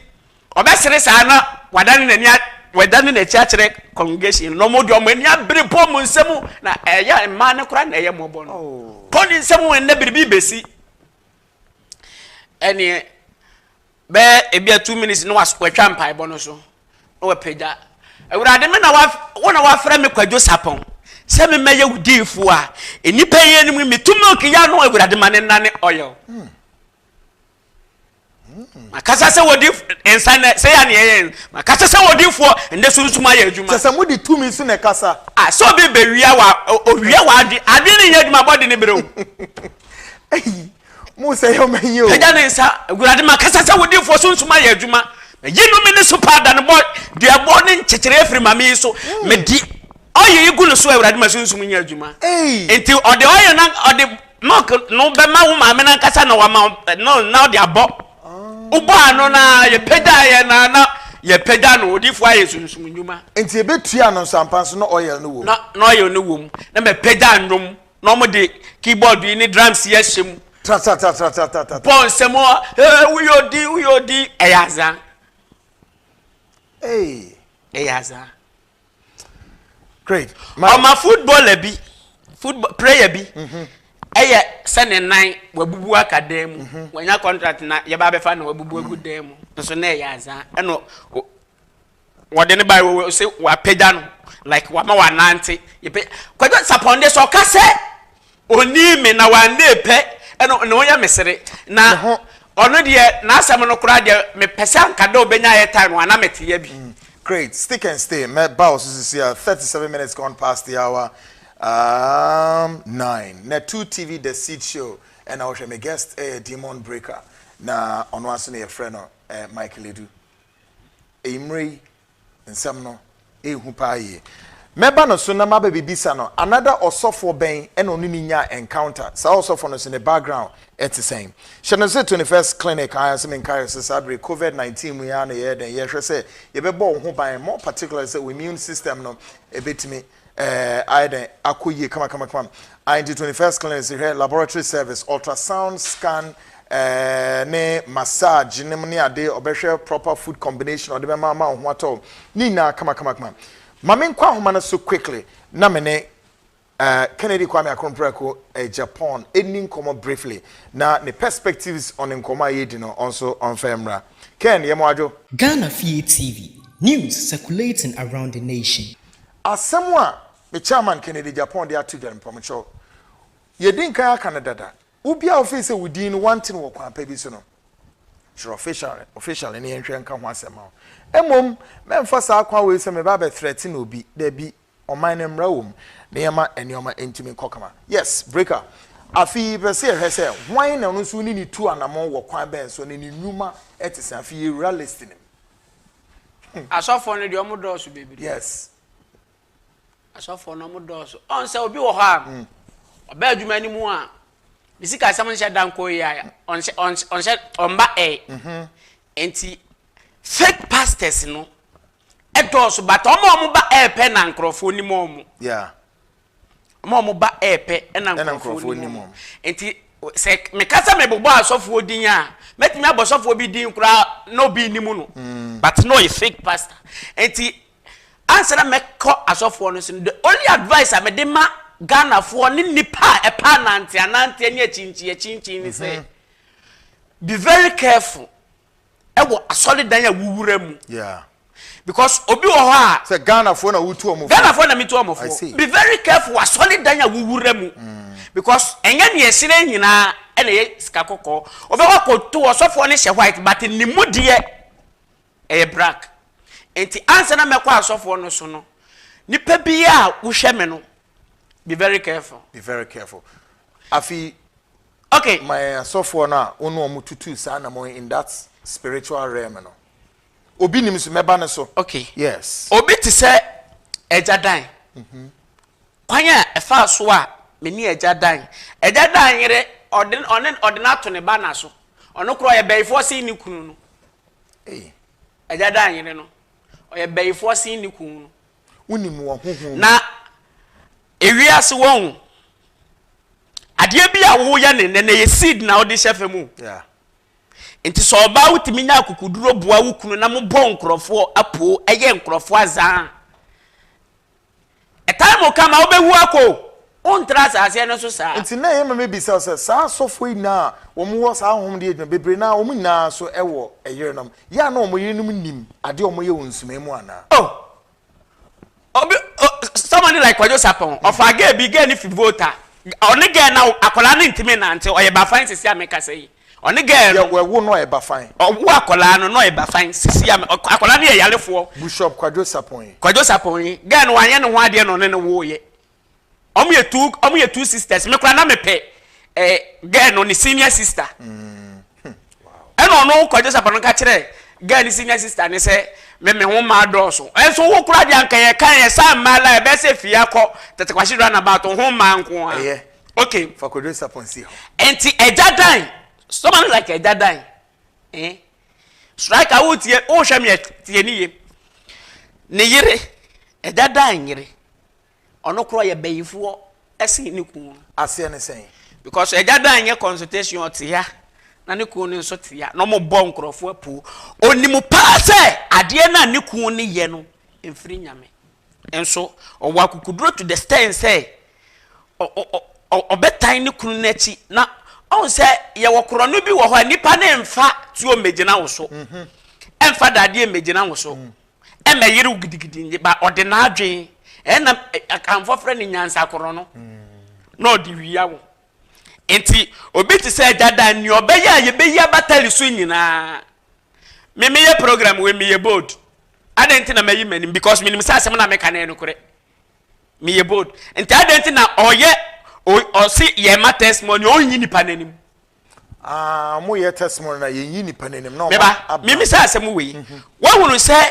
Ɔbɛsere saa na wadane n'ani a, wadane n'akyi akyerɛ congregation no, wɔn de wɔn ani abere bɔ wɔn nsam, na ɛyɛ a mmaa no koraa na ɛyɛ mmɔbɔ no. Kɔ ne nsam wɔ nnɛ biribi besi. Ɛneɛ bɛyɛ ebi a two minutes na watwa mpaebɔ no so na wapagya awurade me na wo na wafrɛ me kwadwo sapɔn sɛ memɛyɛ wo diifo a nnipa yi anim metu milk yɛ no awurade ma ne nna ne ɔyɛ hmm. makasa sɛ wɔdi nsa nɛ sɛ yɛ neɛ yɛ makasa sɛ wɔdifoɔ ɛnɛ sunsum ayɛ adwuma sɛ sɛ mode tumi so na ɛkasa a sɛ obi bɛwia wa owia wa adwe adwe ne nyɛ adwuma bɔde ne berɛ o ayi mo sɛ yɛ ɔma yi o ɛgya ne nsa awurade makasa sɛ wɔdifoɔ sunsum ayɛ adwuma yi no me ne so paa da no bɔ duabɔ ne nkyekyerɛ afiri ma me yi so hmm. medi ɔyɛ yi gu no so awurade ma sunsum nyɛ adwuma nti ɔde ɔyɛ na ɔde Milk no bɛma wo maame no ankasa na wama no na ɔde abɔ. Wobɔɔ no na yɛpagyaa yɛ na na yɛpagya no odiifoɔ ayɛ sunsum nnwuma. Nti yɛbɛtua no nsampa nso na oil no wɔ mu. Na na oil no wɔ mu. Na mapagya nnwom na wɔde keyboard yi ne drums yi ahyɛ mu. Tra-tra-tra-tra-tra-tra-tra. Bɔ nsɛm ɔ ee woyɛ odin woyɛ odin ɛyɛ azaa. Ee. Ɛyɛ azaa. Great. My... Ɔma footballer bi, football player bi. Mm -hmm. Ɛyɛ sɛ ne nan wabubu aka dan mu. Mm -hmm. Wanya contract na yɛba abɛfa na wabubu agu mm-hmm. dan mu. Nso na ɛyɛ azan. Ɛno wɔde ne ba wɔ sɛ wapagya no like wama wanante. Yɛpɛ kwadwo sapɔnde sɛ ɔka sɛ. Ɔnii me na w'anna epɛ ɛno na ɔyɛ me sere na ɔno deɛ n'asɛm no koraa deɛ me pɛ sɛ anka dɛ ɔbɛnya air time a na me te yɛ bi. Great, stick and stay mɛ ba wo so sisi a thirty seven minutes gone past the hour um nine na two TV the seed show ɛna wohwɛ me guest ɛyɛ demon breaker na ɔno aso na yɛfrɛ no eh Mike Ledu eyi mmerɛ yi nsɛm no yɛ hu paa yie. Mɛba no so na maba bɛbisa no another ɔsɔfoɔ bɛn na ɔne no nyaa encounter, saa ɔsɔfoɔ no nso ne background te sɛn. Hyɛ no sɛ 21st clinic aa sɛ menkaeɛ sɛ saa bere covid 19 mu yi aa na yɛyɛ dɛn yɛhwɛ sɛ yɛbɛbɔ wo ho ban more particularly sɛ wo immune system no bɛtumi Ɛɛ ayɛ dɛn akɔ yie kamakamakama ae nti twenty first clinic se hwɛ laboratory service ultrasound scan ɛɛ ne massage nom ne ade ɔbɛhwɛ proper food combination ɔde bɛma ama wo ho atɔ wo ne nyinaa kamakamakama ma me nkɔ ahoma no so quickly na me ne ɛɛ Kennedy Kwame Akronprako Agyapong ɛnni nkɔmmɔ briefly na ne perspectives on nkɔmmɔ a yɛredi no ɔnso ɔmfa ɛmmra Ken yɛ mo adwo. Ghana Fie TV, News circulating around the nation. Asɛm a me chairman Kennedy Agyapong de ato dwa no, mpamokyɛw, yɛadi nkan aka no dada, wo biara a wofii sɛ wo din no wɔante no wɔ kwan pa bi so no, kyerɛ official, officially na yɛnhwɛ nka ho asɛm ma wo. Mmom, mɛmfa saa kwan wei sɛ meba abɛ threaten obi, dabi, ɔman no mmara wɔ mu na yɛma nneɛma ntumi nkɔ kama. Yes, Breaker, afe yi yɛpɛ sɛ yɛhwɛ sɛ hwan na ɔno nso wo ne no tu anamɔn wɔ kwan bɛn so na ne nnwuma te sɛn, afei yɛwura list no mu. Asɔfoɔ no deɛ ɔmo dɔɔso bebree. Yes. Asɔfoɔ no ɔmo dɔɔso. Ɔn sɛ obi wɔ hɔ a. Mm. Ɔbɛ adwuma no mu a. Ne sika asɛm nhyɛ da nkɔ yi a. Ɔnhyɛ ɔnhyɛ ɔnhyɛ ɔmba ɛɛ. Mm-hmm. Nti fake pastors no ɛdɔɔso but ɔmo a ɔmo ba ɛɛpɛ na nkorɔfoɔ nim ɔmo. Yeah. Wɔn a wɔba repɛ na nkurɔfoɔ nim wɔn. Nti sɛ meka sɛ mebobɔ asɔfoɔ din a, mɛtumi abɔ sɔfoɔ bi din koraa na obi nnim no. Mm. But na ɔyɛ fake pastor. Nti ansa na mɛkɔ asɔfoɔ no so no, the only advice a mede ma Ghanafoɔ ne nnipa a ɛpɛ ananteananteɛ ne akyinkyiakyinkyin ne sɛ, mhm. be very careful. ɛwɔ asɔredan a wowura mu. Yeah. Because obi wɔ hɔ a. Sɛ Ghanafoɔ na wotu ɔmo fo. Ghanafoɔ na metu ɔmo fo. Be very careful asɔredan a wowura mu. Mm. Because ɛnyɛ nea ɛhyerɛn nyinaa ɛna ɛyɛ sika kɔkɔɔ. Ɔbɛkɔ akɔtu ɔsɔfoɔ no hyɛ white but ne mu deɛ ɛyɛ black. Nti ansa na mɛkɔ asɔfoɔ no so no, nipa bi a wohwɛ me no, be very careful. Be very careful. Afei Okay. ma yɛn asɔfoɔ no a wo ne wɔn tutuu saa anammɔn yi in that spiritual realm no. Obi nim so, mɛba no so. Okay. Yes. Obi te sɛ Agya Dan. Kwan a ɛfaa so a me ne Agya Dan, Agya Dan yere, ɔde no, ɔne, ɔde no ato ne ba na so. Ɔno koraa ɔyɛ bayifoɔ sen ne kunu no. Ei. Agya Dan yere no, ɔyɛ bayifoɔ sen ne kunu no. wonim wɔ honhom mu. Na ewiase wɔn adeɛ bi a woyɛ ne nnɛ na ɛyɛ seed na wode hyɛ fam o. Yeah. Nti sɛ ɔbaa wotumi nya akukuduro boa wo kunu na mo bɔ nkorɔfoɔ apoo ɛyɛ nkorɔfoɔ azaa. A time will come a wobɛwu akɔ o. Wontra asaaseɛ no so saa. Nti na ɛyɛ ma me bisa sɛ saa asɔfoɔ nyinaa a wɔn wɔ saa ahonhom deɛ adwuma bebree no ara wɔn nyinaa nso wɔ ɛyerenom yɛ a na wɔn yerenom nim adeɛ a wɔn yɛ wɔ nsumaɛ mu anaa. Oh obi oh somebody like kwadwo sapon ɔfaa girl bi girl no fi volta ɔne girl na akwadaa no ntumi nante ɔyɛ bafan sisi a mekasa yi ɔne girl no. yɛ ɛwo no ɔyɛ bafan. ɔwo akwadaa no na ɔyɛ bafan sisi a akwadaa no yɛ yarefoɔ. bushop kwadwo sapon yi. kwadwo sapon yi girl no wanyɛ ne ho adeɛ na ɔne no woo yɛ. Ɔmo yɛ two ɔmo yɛ two sisters me koraa na me pɛ ɛɛ eh, girl no ne senior sister. Mm. Hmm. Ɛna ɔno kɔ Joseph no ka kyerɛ girl ne senior sister ne sɛ me me ho mmaa dɔɔso. Ɛnso wo koraa deɛ anka yɛ kan yɛ saa mmaa la ɛbɛyɛ sɛ fie akɔ tete kwasi run about ho mmaa nko ara. Ɛyɛ. Okay. Fa kɔ Joseph nsi hɔ. Ɛnti ɛgya dan. Sɔma no like ɛgya dan. Eh? Striker wo tie wo hwɛ me tie ne yie. Ne yere ɛgya dan yere. Ɔno kora yɛ bayifoɔ sen ne kunu. Aseɛ ne sɛn? Because agya da nyɛ consultation ɔte ha na ne kunu no nso te ha na wɔn bɔ nkorɔfoɔ apuo. Onim paa sɛ adeɛ no a ne kunu no yɛ no mfiri nyame. Nso ɔwɔ akukuduro to the stand sɛ ɔbɛtan ne kunu no akyi na ɔn sɛ yɛwɔ korɔno bi wɔ hɔ a nipa no mfa tuo mmegyina wo so. Ɛmfa dadeɛ mmegyina wo so. ɛmɛ yere wo gidigidi nye ba ɔde n'adwen ɛna akanfoɔ frɛ ne nyansakorɔ no na ɔde wia wo nti obi te sɛ agya dan nea ɔbɛyɛ a yɛbɛyi abatali so nyinaa me meyɛ program wei meyɛ bold adɛn nti na mayi m'anim because menim sɛ asɛm na meka ne nokorɛ meyɛ bold nti adɛn nti na ɔyɛ ɔse yɛma testimony ɔnyi nipa n'anim Ah, mo yɛ testimony na yɛn yi nipa n'anim na. Me ba, mi mi sɛ asɛm wɔ yi. Mhm. Wɔhunu sɛ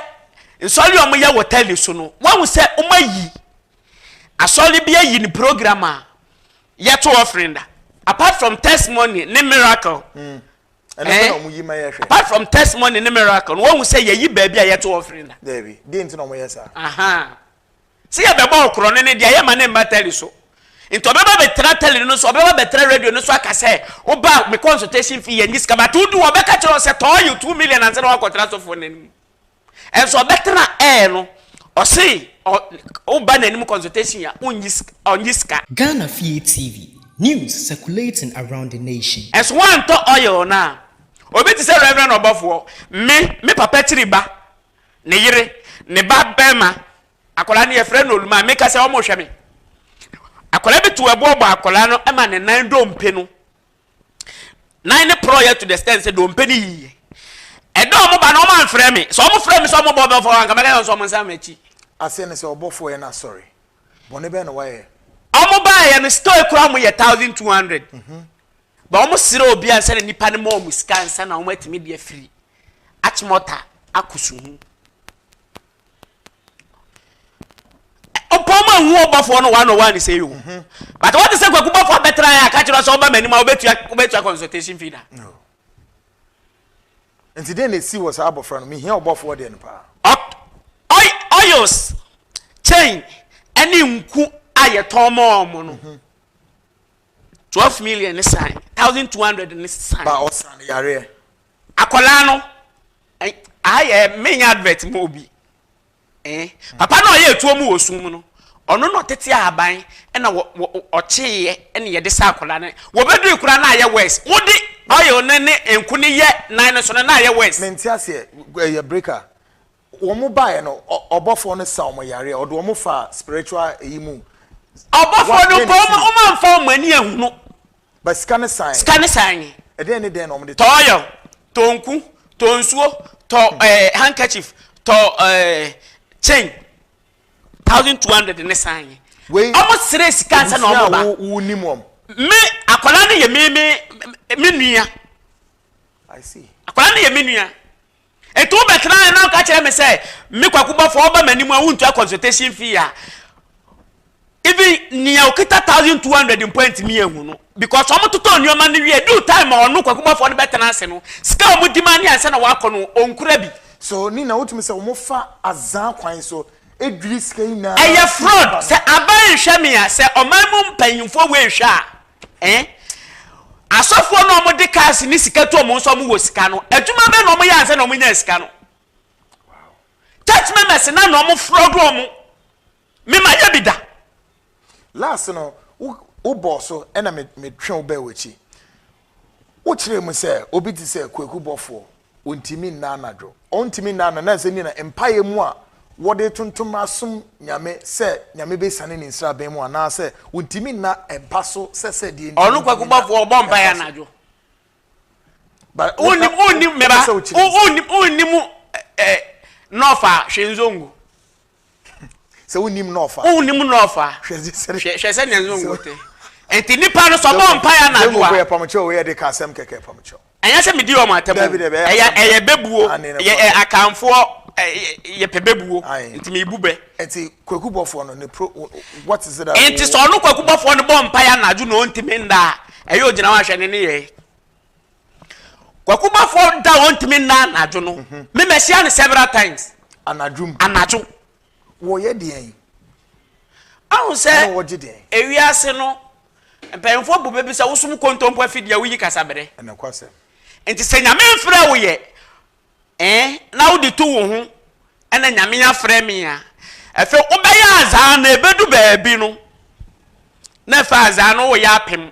nsɔre a wɔyɛ wɔ tɛli so no, wɔhunu sɛ wɔn ayi asɔre bi ayi ne program a yɛto offering da. Apart from testimony ne miracle. Mm. Ɛno eh? na wɔn yi ma yɛ hwɛ. Apart from testimony ne miracle, wɔhunu sɛ yɛyi baabi a yɛto offering da. Dɛbi, di nti na wɔn yɛ saa. Aha. Sɛ yɛbɛbɔ ɔkorɔn no ne deɛ yɛmma no mma tɛli so. Nti ɔbɛba bɛtena tɛli no so, ɔbɛba bɛtena radio no so aka sɛ woba me consultation fee yɛnyi sika but wodu hɔ ɔbɛka kyerɛ wo sɛ tɔɔ you two million ansa na woakɔtena sɔfoɔ no anim. Ɛnso ɔbɛtena air no ɔse woba n'anim consultation a wonnyi sika ɔnnyi sika. Ghana Fie TV, News circulating around the nation. Ɛnso woantɔ oil no a obi te sɛ Reverend ɔbɔfoɔ, me, me papa kyiri ba, ne yere, ne ba barima, akwadaa no yɛfrɛ no Olumaa, meka sɛ wɔrehwɛ me. Akwadaa bi to ɛboɔ bɔ akwadaa no ma ne nan dompe no. Nan no porɔeɛ to the extent sɛ dompe no yiiɛ. Ɛda wɔn ba no wɔn amfrɛ me, sɛ wɔn frɛ me sɛ wɔn bɔ bɛfɔ anka mɛka sɛ wɔn nsa m'akyi. Aseɛ ne sɛ ɔbɔfoɔ yɛ no asɔre, bɔne bɛn na wayɛ? Wɔn baeɛ no store kura wɔn yɛ thousand two hundred. Mhm. But wɔn srɛ obi ansa na nipa no ma wɔn sika ansa na wɔn atumi de afiri Achimota akɔ Suhu. Ɔpɔn mu ehu ɔbɔfoɔ no one on one sɛ yi o. Mhm. But wɔn ti sɛ kwaku bɔfoɔ abɛtena yɛ akakyerɛ sɛ ɔba mɛnum a ɔbɛtua ɔbɛtua consultation fee da. Nti den na esi wɔ saa abɔfra no mihia ɔbɔfoɔ deɛ no paa. Oils chain ɛne nku a yɛtɔn mɔɔ mo no. Mhm. Twelve million ne san. Thousand two hundred ne san. Ba ɔsan ne yareɛ. Akwadaa no, ɛn, aha yɛ menyɛ advert mu obi. Eh, papa no a ɔyɛ atuo mu wɔ sum mu no, ɔno na ɔtete ahaban ɛna wɔ, wɔ, ɔkyeeɛ ɛna yɛde saa akwadaa no. Wɔbɛdui koraa na ayɛ worse. Wode oil no ne nku no yɛ nan no so no na ayɛ worse. Mente aseɛ, ɛyɛ breaker. Wɔn baeɛ no, ɔbɔfoɔ no saa wɔn yareɛ, ɔde wɔn faa spiritual eyi mu. Ɔbɔfoɔ no bɔɔ wɔn, wɔn amfa wɔn ani ahunu. Ba sika ne san. Sika ne san nye. Ɛdɛn ne dɛn na wɔn de tɔ. Tɔ oil, tɔ nku, tɔ nsuo, tɔ ɛɛ eh, handkerchief, tɔ ɛɛ eh, chain, thousand two hundred ne san nye. Wei. Wɔn sere sika ansa na wɔn ba. Ebusua a wo nim wɔn. Me akwadaa no yɛ me me me nua. I see. Akwadaa no yɛ me nua. Enti wobɛtena ha na woka kyerɛ me sɛ me kwaku bɔfo ɔba m'anim a wontua consultation fee a even nea okita thousand two hundred mpo ntumi ehu no because wɔn totɔ nneɛma no wie due time a ɔno kwaku bɔfo no bɛtena ase no sika a wɔn di ma ne ansa na wakɔ no onkura bi. So ne na wotumi sɛ wɔn fa azan kwan so edwiri sika nyinaa. Ɛyɛ fraud sɛ aban nhwɛ me a sɛ ɔman mu mpanyinfoɔ wei nhwɛ a. Ɛn? Asɔfoɔ no a wɔde cars ne sika tu wɔn nso wɔwɔ sika no, adwuma bɛn na wɔyɛ ansa na wɔnyaa sika no? Church members na na wɔfraud wɔn. Mema yɛ bi da. Last no, wobɔɔ so ɛna metwe wo bɛɛ w'akyi. Wokyerɛɛ mu sɛ obi te sɛ Kwaku Bɔfoɔ. Ontumi nna anadwo. Ontumi nna anadwo. Nanso ɛnneɛ na mpaeɛ mu a wɔde tontom asom Nyame sɛ Nyame bɛsiane ne nsraban mu anaa sɛ ontumi nna mpa so sɛ sɛ deɛ nti Ɔno ontumi nna kwakubafoɔ ɔbɔ mpaeɛ mpa so. anadwo. But wo na Wonnim, wo wonnim, me wopɛ ba, sɛ wokyerɛ wo, mu. wonnim, wonnim eh, eh, North a, hwɛ Nzongo. Sɛ wonnim na ɔfa. Wonnim na ɔfa. Hwɛ sɛ hwɛ hwɛ sɛ nea nso ngo te. Enti nipa no sɛ ɔbɔ mpaeɛ anadwo a. Yɛ pamkyɛw wei yɛde ka asɛm kɛkɛ pamkyɛw. Ɛnyɛ sɛ medi wɔn atɛm o. Ɛyɛ ɛyɛ bɛbuo. Yɛ akanfoɔ yɛpɛ bɛbuo. Nti mebu bɛ. Nti kwaku bɔfoɔ no ne pro what is it. Nti sɛ ɔno kwaku bɔfoɔ no bɔ mpaeɛ anadwo na ɔntumi nda a ɛyɛ ogyina hɔ ahwɛ ne ne yɛe. kwakubafoɔ da a ɔntumi nna anadwo no mhm. me mahyia no several times anadwo mu anadwo wɔyɛ deɛn ahu sɛ wɔgye deɛn ewiase no mpanyinfoɔ bu bɛbi sɛ wosom kontompo afidie a woyi kasaberɛ nti sɛ nyame mfrɛ wo yɛ ɛn na wode to wo ho ɛna nyame afrɛ me a ɛfɛ wobɛyɛ azaa na ɛbɛdu baabi no na ɛfɛ azaa no woyɛ apem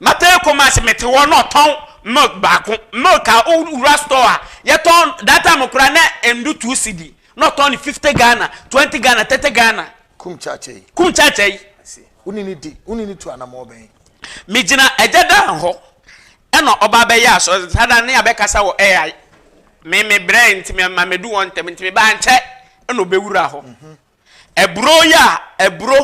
Mɛtena Kumasi mete hɔ na ɔtɔn milk baako milk a wo wura store a yɛ tɔn that time koraa na endu two cedi na ɔtɔn no fifty Ghana twenty Ghana thirty Ghana. Kum church yi. Kum church yi. Wo ne no di wo ne no tu anamɔ bɛn. Me gyina agya Dan hɔ ɛna ɔba abɛyɛ asɔre saa da no ne abɛkasa wɔ ai me me brɛɛ nti me ma medu hɔ ntɛm nti me ba ankyɛ ɛna ɔbɛwura hɔ. Aburo yi a aburo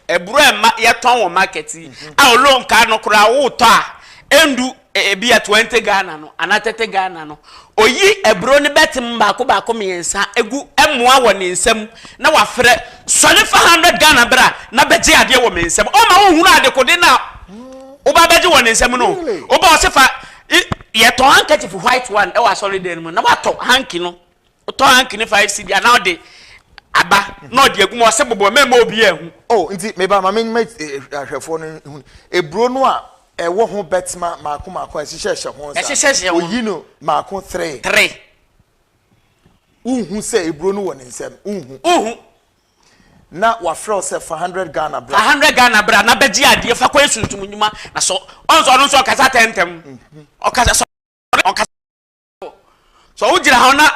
aburo a ɛma yɛtɔn wɔ market yi a ɔlo nkaa no koraa wotɔ a ɛndu ebi a twenty Ghana no anaa thirty Ghana no oyi aburo no bɛtem baako baako mmiɛnsa egu ɛmoa wɔ ne nsam na wafrɛ sɔre fa hundred Ghana bra na bɛgye adeɛ wɔ me nsam ɔma wohunu adekode no a woba bɛgye wɔ ne nsam no woba ɔse fa yɛtɔn handkerchief white one ɛwɔ asɔre dan no mu na watɔ hanky no Ɔtɔ hanky ne five cedi anaa ɔde aba na ɔde agu mu ɔse bobɔ mɛmma obiaa nhu. Oh nti meba ma menma ahwɛfoɔ no hu aburo no a ɛwɔ ho bɛtma maako maako a ɛhyehyɛ hyɛ ho saa no oyi no maako three. Three. Wonhu sɛ aburo no wɔ ne nsam wonhu. Wonhu. Na wafrɛ wo sɛ fa hundred Ghana bra. Fa hundred Ghana bra na bɛgye adeɛ fa kɔyɛ sunsum nnwuma na sɔ ɔnsɔ ɔno nso ɔkasa tɛntɛm ɔkasa sɔ ɔkasa. sɛ wogyina hɔ na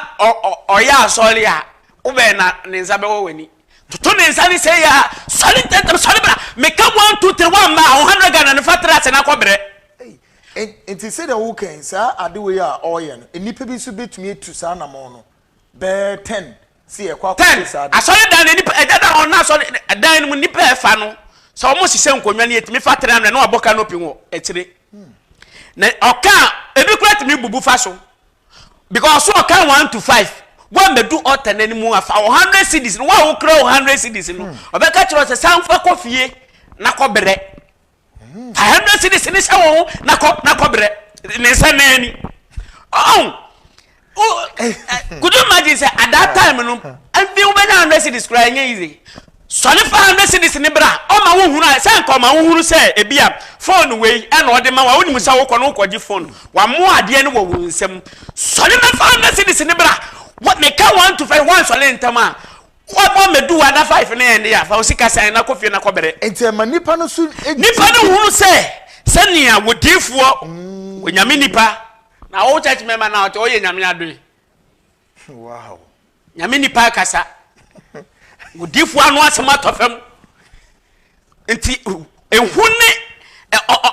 ɔyɛ asɔre a wobɛn na ne nsa bɛwɔ w'ani toto ne nsa ne sɛ yɛ a sɔre ntɛntɛm sɔre bra meka one two three one ma ho hundred ghana ne fa tra ase na kɔbrɛ nti sɛdeɛ wokɛn saa ade wei a ɔreyɛ no nnipa bi nso bɛtumi atu saa namɔn no bɛyɛ ten si yɛ kɔ akɔ si saa. ten asɔre dan no nipa ɛda dan wɔn na asɔre dan no mu nipa ɛfa no sɛ wɔn hyehyɛ nkonnwa no yɛ tumi fa ten amena na wabɔ canopy wɔ akyire na ɔka ebi kura tumi bubu fa so because so ɔka one to five wɔn bɛ du ɔtɛ n'anim afa o hundred cities no wɔn a wɔkura o hundred cities no ɔbɛka kyerɛ ɔsɛ sanfa kɔ fie na kɔ brɛ. Fa hundred cities ne hyɛ wɔn ho na kɔ na kɔ brɛ ne nsa nan ni. Ɔn o could you imagine sɛ at that time no ɛnfi wo bɛnya hundred cities kura ɛnyɛ easy. Sɔne fa hundred cities ne bra ɔma wo hunu a sɛ nka ɔma wo hunu sɛ ebi a phone wei ɛna ɔde ma wa wo nim sɛ wo kɔ no kɔ gye phone wa mo adeɛ no wɔ wo nsam sɔne bɛ fa hundred cities ne bra me ka one to five wɔn sɔne ntɛm a Wa bɔ meduwa na five no yɛ ndea fa wo sika san na kɔ fie na kɔ bere. Enti ɛma nnipa no nso gye di. Nnipa no hunu sɛ sɛnea wɔ diifoɔ, wɔ Nyame nnipa, na wɔ church member na ɔte ɔyɛ Nyame adoe. Wow. Nyame nnipa akasa. Wɔ diifoɔ ano asɛm atɔ fam. nti ehu ne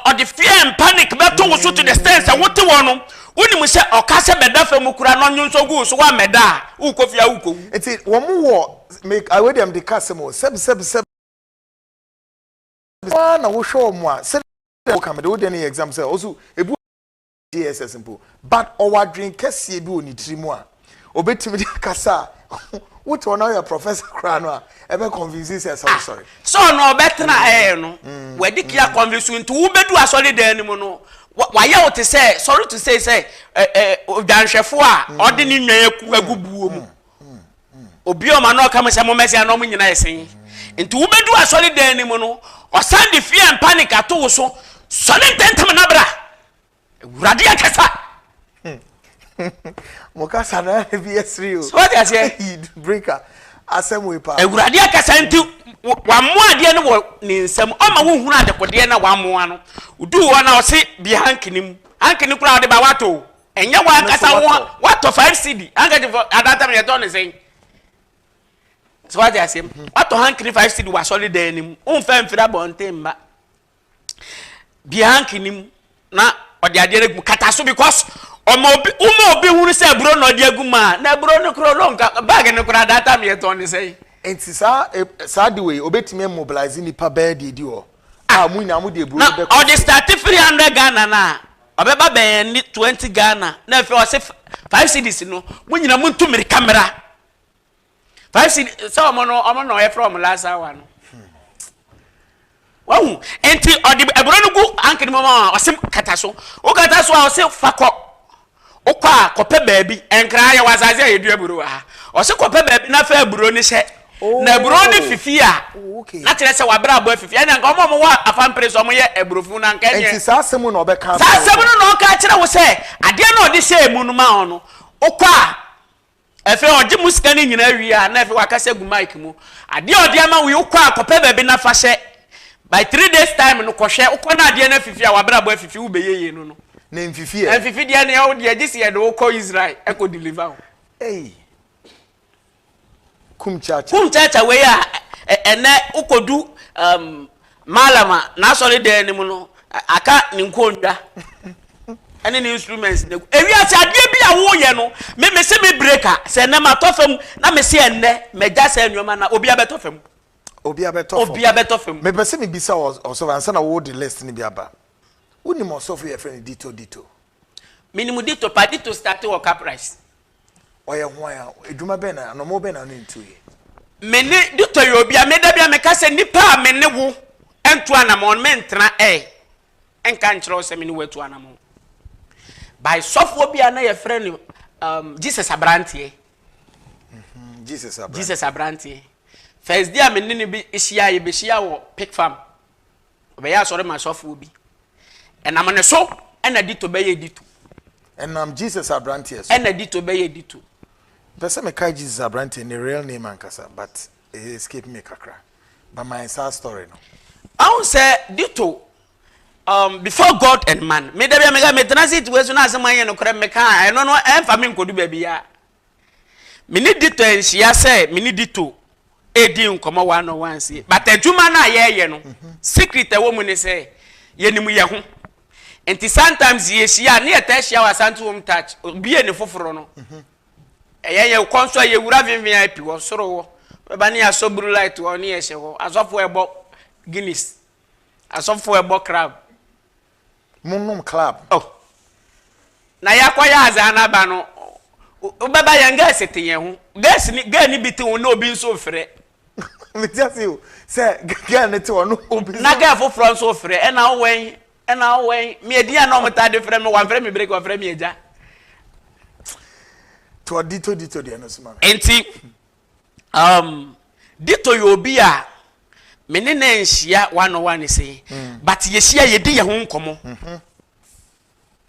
ɔde fear and panic bɛto wo so to the extent sɛ wote hɔ no wonim sɛ ɔka sɛ bɛda fa mu kura na ɔnwonsɔ gu so wa mɛda a wokɔ fie a wokɔ wu. nti wɔn wɔ make awɛ deɛ mede ka asɛm o sɛbi sɛbi sɛbi waa na wohwɛ wɔn a sɛdeɛ woka mede wo deɛ no yɛ exam sɛ ɔso ebu JSS mpo but ɔwɔ adwene kɛseɛ bi wɔ ne tiri mu a obetumi de akasa a wote ɔno ayɛ professor koraa no a ɛbɛ convince sɛ ɛsɛ wosɔre. sɛ ɔno ɔbɛtena mm. ɛɛ no mm. wɔde kia mm. convince nti wobedu asɔre dan no mu no wayɛ wo te sɛ sorry to say sɛ odwanhwɛfoɔ a ɔde ne nwan agu buo mu obi a ɔma no ɔka mu sɛ mommɛsɛ na ɔmo nyina yɛ sen nti wobɛdu asɔre dan no mu no ɔsan de fear and panic ato wo so sɔre ntɛntɛm na bra awurade akasa mo kasa na ebi ɛsiri o sɔre aseɛ breaker asɛm wei paa awurade akasa nti wammo adeɛ no wɔ ne nsam ɔma wo hunu adekodeɛ na wammoa no wodu hɔ na ɔse bi hankini mu hankini koraa ɔde ba wato Ɛnyɛ wɔn ankasa wɔn watɔ five cd handkerchief adatam yɛ tɔ ne sɛn so wate aseɛ mu mhm. watɔ hankini five cd wɔ asɔre dan ne mu womfa mfiri abɔnten mma bie hankini mu na ɔde adeɛ no gu kata so because ɔma obi woma obi hunu sɛ aburo na ɔde agu mu a na aburo no korɔ no nka baage no korɔ adatam yɛ tɔ ne sɛn nti saa e, saa de wei obetumi mobilize nipa bɛɛ deɛ di hɔ a ah, mo nyinaa mo de aburo no bɛkɔ na ɔde start three hundred ghana na Ɔbɛba bɛn ani 20 Ghana na afei ɔse five cities no mo nyina mo ntu mirika mera five cities sɛ ɔmo no ɔmo na ɔyɛfrɛ ɔmo last hour no wahu nti ɔde aburo no gu ankene mu a ɔse kata so wo kata so a ɔse fakɔ wokɔ a kɔpɛ baabi nkra yɛwɔ asase a yɛdua aburo wɔ ha ɔse kɔpɛ baabi na fa aburo no hyɛ na aburo no fifi a, na kyerɛ sɛ w'abrabɔ afifi. Ɛnna nka wɔn a wɔwɔ afa mpere so wɔyɛ aburofo na nka ɛnyɛ. Nti saa asɛm mu na ɔbɛka. Saa asɛm no na ɔka kyerɛ wo sɛ adeɛ na ɔde hyɛɛ mu no ma wɔn no, wokɔ a, afei ɔgye mu sika no nyinaa wie a, na afei wakasa gu mic mu. Adeɛ ɔde ama wo yi, wokɔ a kɔpɛ baabi na fa hyɛ. By three days time no kɔhwɛ, wokɔ na adeɛ no afifi a, w'abrabɔ afifi, wobɛyɛ yie no no. Na ɛmfifi ɛ. Ɛmfifi deɛ ne ɛwo deɛ, gye sɛ yɛde wo kɔ Israel ɛkɔ deliver wo. Ei. kum kyaakyaa. Kum kyaakyaa wei a ɛnɛ wokodu um, Malam a n'asɔre dan no mu no aka ne nkonnwa ɛne ne instruments na ewiase adeɛ bi a woyɛ no me me se me breka sɛ ɛnɛ ma tɔ fam na me se ɛnɛ mɛgya sɛ nneɛma na obi abɛtɔ fam. obi abɛtɔ fam obi abɛtɔ fam. mepɛ sɛ mebisa ɔsɔfo ansa na wɔde list no bi aba wonim ɔsɔfo yɛ fɛ no dito dito. menim dito pa dito start wɔ caprice. Ɔyɛ hwan a? Adwuma bɛn na, anomoo bɛn na ɔne no tuu yɛ? Me ne no tɔ yɛ obi a, me da bi a meka sɛ nipa a me ne wo ntu anamɔn no mentena ɛ nka nkyerɛ wo sɛ me ne wo atu anamɔn. By sɔfoɔ bi a na yɛfrɛ no um, Jesus Abranteɛ. Jesus Abranteɛ. Jesus Abranteɛ. First day a me ne no bi hyia yɛ bɛhyia wɔ Pick Farm. Ɔbɛyɛ asɔre ma asɔfoɔ bi. Ɛnam ne so ɛna dito bɛyɛ dito. Ɛnam Jesus aberanteɛ so. Ɛna dito bɛyɛ dito. Mpɛ sɛ mekae Jesus aberanteɛ ne real name ankasa but ɛyɛ escape me kakra. But my saa story no. Ahun sɛ dito um, before God and man. Me da bi a meka metena seat wei so na asɛm anyɛ nokorɛ meka a ɛno no ɛmfa me nkɔdu baabi a. Me ne Dito anhyia sɛ me ne Dito redi nkɔmmɔ one on one sie. But adwuma no a yɛreyɛ no, mhm. secret ɛwɔ mu ne sɛ yɛnim yɛ ho. Nti sometimes yɛhyia ne yɛtaa hyia wɔ Asante Home Touch, obie ne foforɔ no. Mhm. Ɛyɛ yɛ kɔn so a yɛwura VVIP wɔ soro hɔ. Bɛba ne yɛasɔ blue light hɔ ne yɛhyɛ hɔ. Asɔfoɔ ɛbɔ Guinness. Asɔfoɔ ɛbɔ crab. mo nom club. Oh na ya kɔ yɛ adze ana ba no wo bɛ ba yɛn girls te yɛn ho girls ni girl ni bi te ho na obi nso ofrɛ. Me ti ase o sɛ girl ne te hɔ no obi nso. Na girl foforɔ nso ofrɛ ɛna wo wɛn ɛna wo wɛn me edin a na ɔmo taa de frɛ me wɔn frɛ me break wɔn frɛ me agya. To ɔdi to di to deɛ no so ma me. Nti Um, Dito yɛ obi a me ne na nhyia one on one se, mm. but yɛhyia yɛdi yɛ ho nkɔmmɔ. Mm -hmm.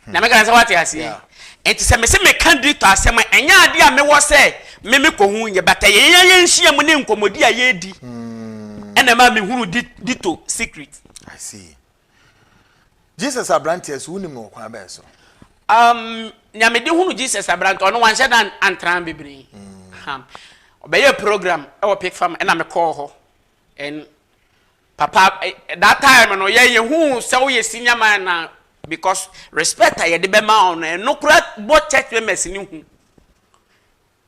na meka sɛ wate aseɛ nti sɛ mese meka dito asɛm a ɛnyɛ ade a mewɔ sɛ me mekɔhu nyɛ bata yɛyɛ yɛnhyia mu ne nkɔmmɔdi a yɛdi ɛna ma mehunu dito secret Jesus aberanteɛ so, wonim no wɔ kwan bɛn so? Um, nea mede hunu Jesus aberanteɛ, ɔno wanhyɛ da antra bebree. Mm. Ɔbɛyɛ program wɔ Pick Farm, ɛna mekɔɔ hɔ. And papa, eh, that time no, yɛ yɛhu sɛ woyɛ senior man na because respect a yɛde bɛma ɔno, ɛno kora bɔ church members ne hu.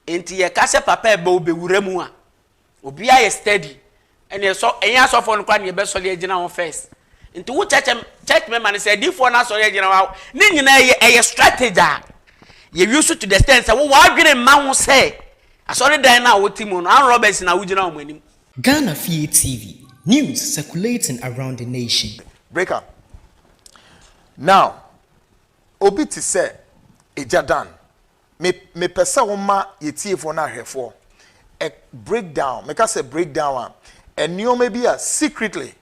Nti yɛka sɛ papa ɛbɛ wo bɛwura mu a obi ayɛ steady ɛne ɛsɔ ɛnyɛ asɔfoɔ no koraa ne yɛbɛsɔre agyina wɔn first nti wo church church member no sɛ adiifoɔ no asɔre agyina wɔn ne nyinaa yɛ ɛyɛ strategy a yɛ use to the extent sɛ wo w'adwene mma ho sɛ asɔredan no a wote mu no armed robbers na wogyina wɔn anim. Ghana Fie TV, News circulating around the nation. Break up now obi te sɛ agya Dan. me mepɛ sɛ woma yɛ tiefoɔ no ahwɛfoɔ a break down meka sɛ break down a nneɛma bi a secretly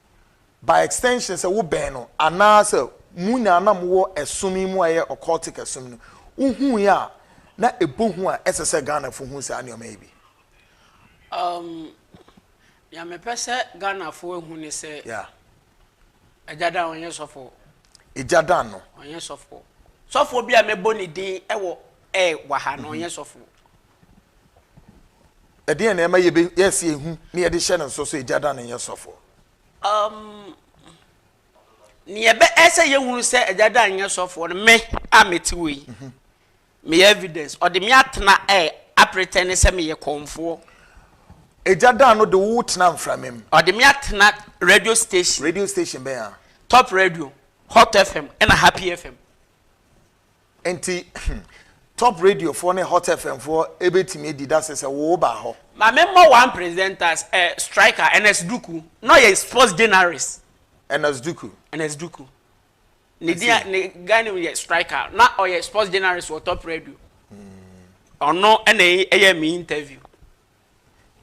by extension sɛ wo bɛn no anaasɛ mo nyinaa na mowɔ ɛsom yi mu a ɛyɛ occultic ɛsom no wohui a na ɛbɔ hu a ɛsɛ sɛ Ghanafo hu saa nneɛma yi bi. Um, nea mepɛ sɛ Ghanafo ahu ne sɛ yeah. Agya Dan ɔnyɛ sɔfoɔ. Agya Dan no. Ɔnyɛ sɔfoɔ. Sɔfoɔ bi a mɛbɔ ne din wɔ ɛɛ wɔ ha no ɔnyɛ sɔfoɔ. Ɛdeɛn na ɛma yɛbɛ yɛsi ehu na yɛde hyɛ ne nso so Agya Dan nyɛ sɔfoɔ. Um, ne yɛbɛ ɛsɛ yɛhunu sɛ Agya Dan nyɛ sɔfoɔ no me a mɛte wɔ yi. Mhm. Meyɛ evidence, ɔde me atena ɛ, apretɛne sɛ meyɛ kɔmfoɔ. Egya daa no de wo tenaa mframa mu. Ɔde me atena radio station. Radio station bɛn a? Top radio, Hot FM ɛna Happy FM. Nti Top radio foɔ ne Hot FM foɔ ɛbɛtumi adi dase sɛ wo baa hɔ? Ma me mmɔ one presenters ɛ, striker, Ernest Duku, na ɔyɛ sports journalist. Ernest Duku. Ernest Duku. Ne din a ne guy name yɛ Striker. Na ɔyɛ sports journalist wɔ Top Radio. Ɔno na ɛyɛɛ me interview.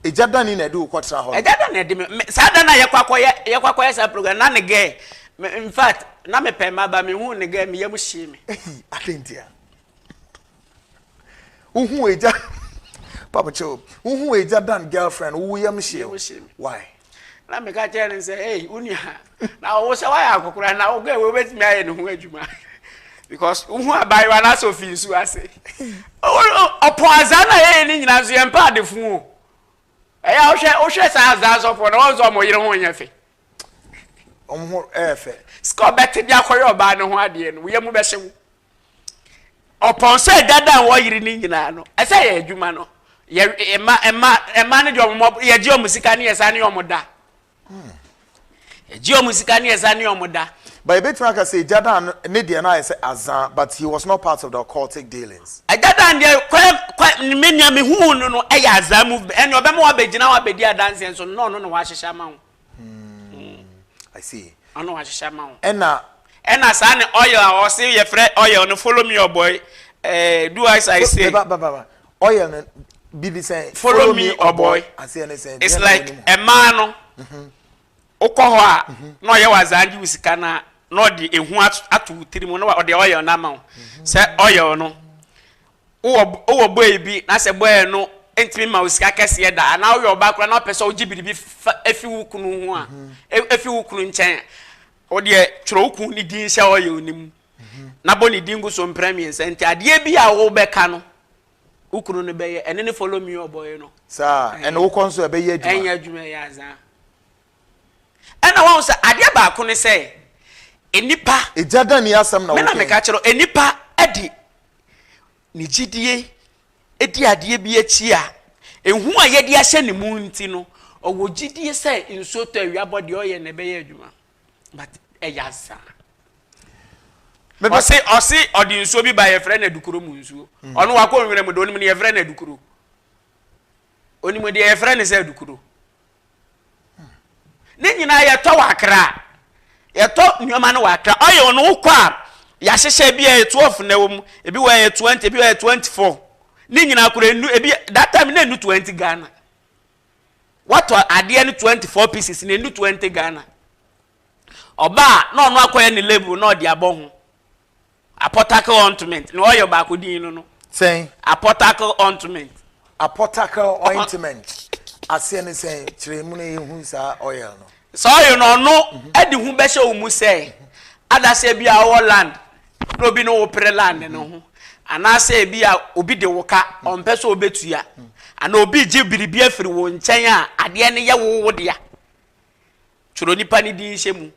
Egya dani na ɛde wo kɔtra hɔ no? Egya dani na ɛde me me saa da no a yɛkɔ akɔyɛ yɛkɔ akɔyɛ saa program na ne gɛɛ me in fact na mepɛ mma ba mehuu ne gɛɛ me yam hyee me. Ehi adɛn ntia? wohu egya papa kyɛw wohu egya dan girlfriend wo yam hyew why na meka kyerɛ no sɛ ei wo nua na wo sɛ woayɛ akɔkora na wokɔ ɛwɔ wobɛtumi ayɛ ne ho adwuma because wohu abayewa no asɛ ofi nsu ase ɔpɔ azaa na yɛyɛ ne nyinaa nso yɛmpɛ adefo o ɛyɛ wohwɛ wohwɛ saa azaa sɔfoɔ na wɔn sɛ ɔmo yere ho nyɛ fɛ ɔmo ho ɛyɛ fɛ sika ɔbɛte de akɔyɛ ɔbaa no ho adeɛ no woyɛ mu bɛhyew Ɔpɔn sɛ dada a wɔyere no nyinaa no, ɛsɛ yɛ adwuma no. Yɛ mma mma mma no deɛ wɔn yɛgye wɔn sika ne yɛsa ne wɔn da. Yɛgye wɔn sika ne yɛsa ne wɔn da. But ebetumi aka sɛ dada ne deɛ no ayɛ sɛ azan but he was not part of the occultic dealings. Dada deɛ kwan kwan me nea me hu no no ɛyɛ azan movement ɛnna ɔbɛma wabɛgyina hɔ abɛdi adanseɛ nso nnɔɔ no na wahyehyɛ ama ho. Hmm. I see. Ano ahyehyɛ ama wo. Ɛna. Ɛna saa ne oil a ɔse yɛfrɛ oil no follow me ɔbɔ yi. Eh, do as I say. Ba ba ba ba. Oil no bibi sɛ. Follow me ɔbɔ yi. Aseɛ ne sɛ. It's like ɛmaa no. Mhm. Wokɔ hɔ a mhm. na ɔyɛ wazaa gye wo sika na na ɔde ehu ato wo tirim na ɔde oil no ama wo. Mhm. Sɛ oil no Wowɔ wowɔ bɔɔy bi na sɛ bɔɔy no ntumi mma wo sika kɛseɛ da anaa woyɛ ɔbaa koraa na wopɛ sɛ wogye biribi fa efi wo kunu ho a e- efi wo kunu nkyɛn a, wo deɛ twerɛ wo kunu ne din hyɛ oil no mu na bɔ ne din gu so mprɛ mmiɛnsa nti adeɛ bi a wobɛka no wo kunu no bɛyɛ ɛne ne follow me ɔbɔɔy no saa ɛna wokɔ nso ɛbɛyɛ adwuma ɛnyɛ adwuma yɛ azaa Ɛna wahu sɛ adeɛ baako ne sɛ nnipa. Egya da ni asɛm na wo kɛn. Me na meka kyerɛ wo nnipa de ne gyidie di adeɛ bi akyi a ehu a yɛde ahyɛ ne mu nti no ɔwɔ gyidie sɛ nsuo tɔ awia bɔ deɛ ɔyɛ na ɛbɛyɛ adwuma but ɛyɛ asa. Ɔse ɔse ɔde nsuo bi ba yɛfrɛ no adukuro mu nsuo mm. ɔno wakɔ nwura mu de onim ne yɛfrɛ no adukuro onim deɛ yɛfrɛ no sɛ adukuro ne nyinaa yɛtɔ wɔ akra yɛtɔ nneɛma no wɔ akra ɔyɛ wɔn wokɔ a yɛahyehyɛ ebi a yɛ twelve na ɛwɔ mu ebi wɔ yɛ twenty ebi wɔ yɛ twenty four ne nyinaa kora enu ebi that time na enu twenty ghana wɔtɔ adeɛ no twenty four pieces na enu twenty ghana ɔbaa na ɔno akɔyɛ ne label na ɔde abɔ ho. Apɔtakl Ɔintment, nea ɔyɛ ɔbaako din no no. Sɛn? Apɔtakl Ɔintment. Apɔtakl Ɔintment, aseɛ ne sɛn? Kyerɛ mu na yɛnhu saa oil no. Saa oil no, ɔno mhm. de hu bɛhyɛ wo mu sɛ, mhm. adaseɛ bi a ɔwɔ land, na obi ne wo pere land no mhm. ho. Anaasɛ ebi a obi de wo ka, ɔmpɛ sɛ ɔbɛtua. Anaa obi gye biribi afiri wo nkyɛn a, adeɛ no yɛ wo wo dea. Twerɛ nipa no din hyɛ mu.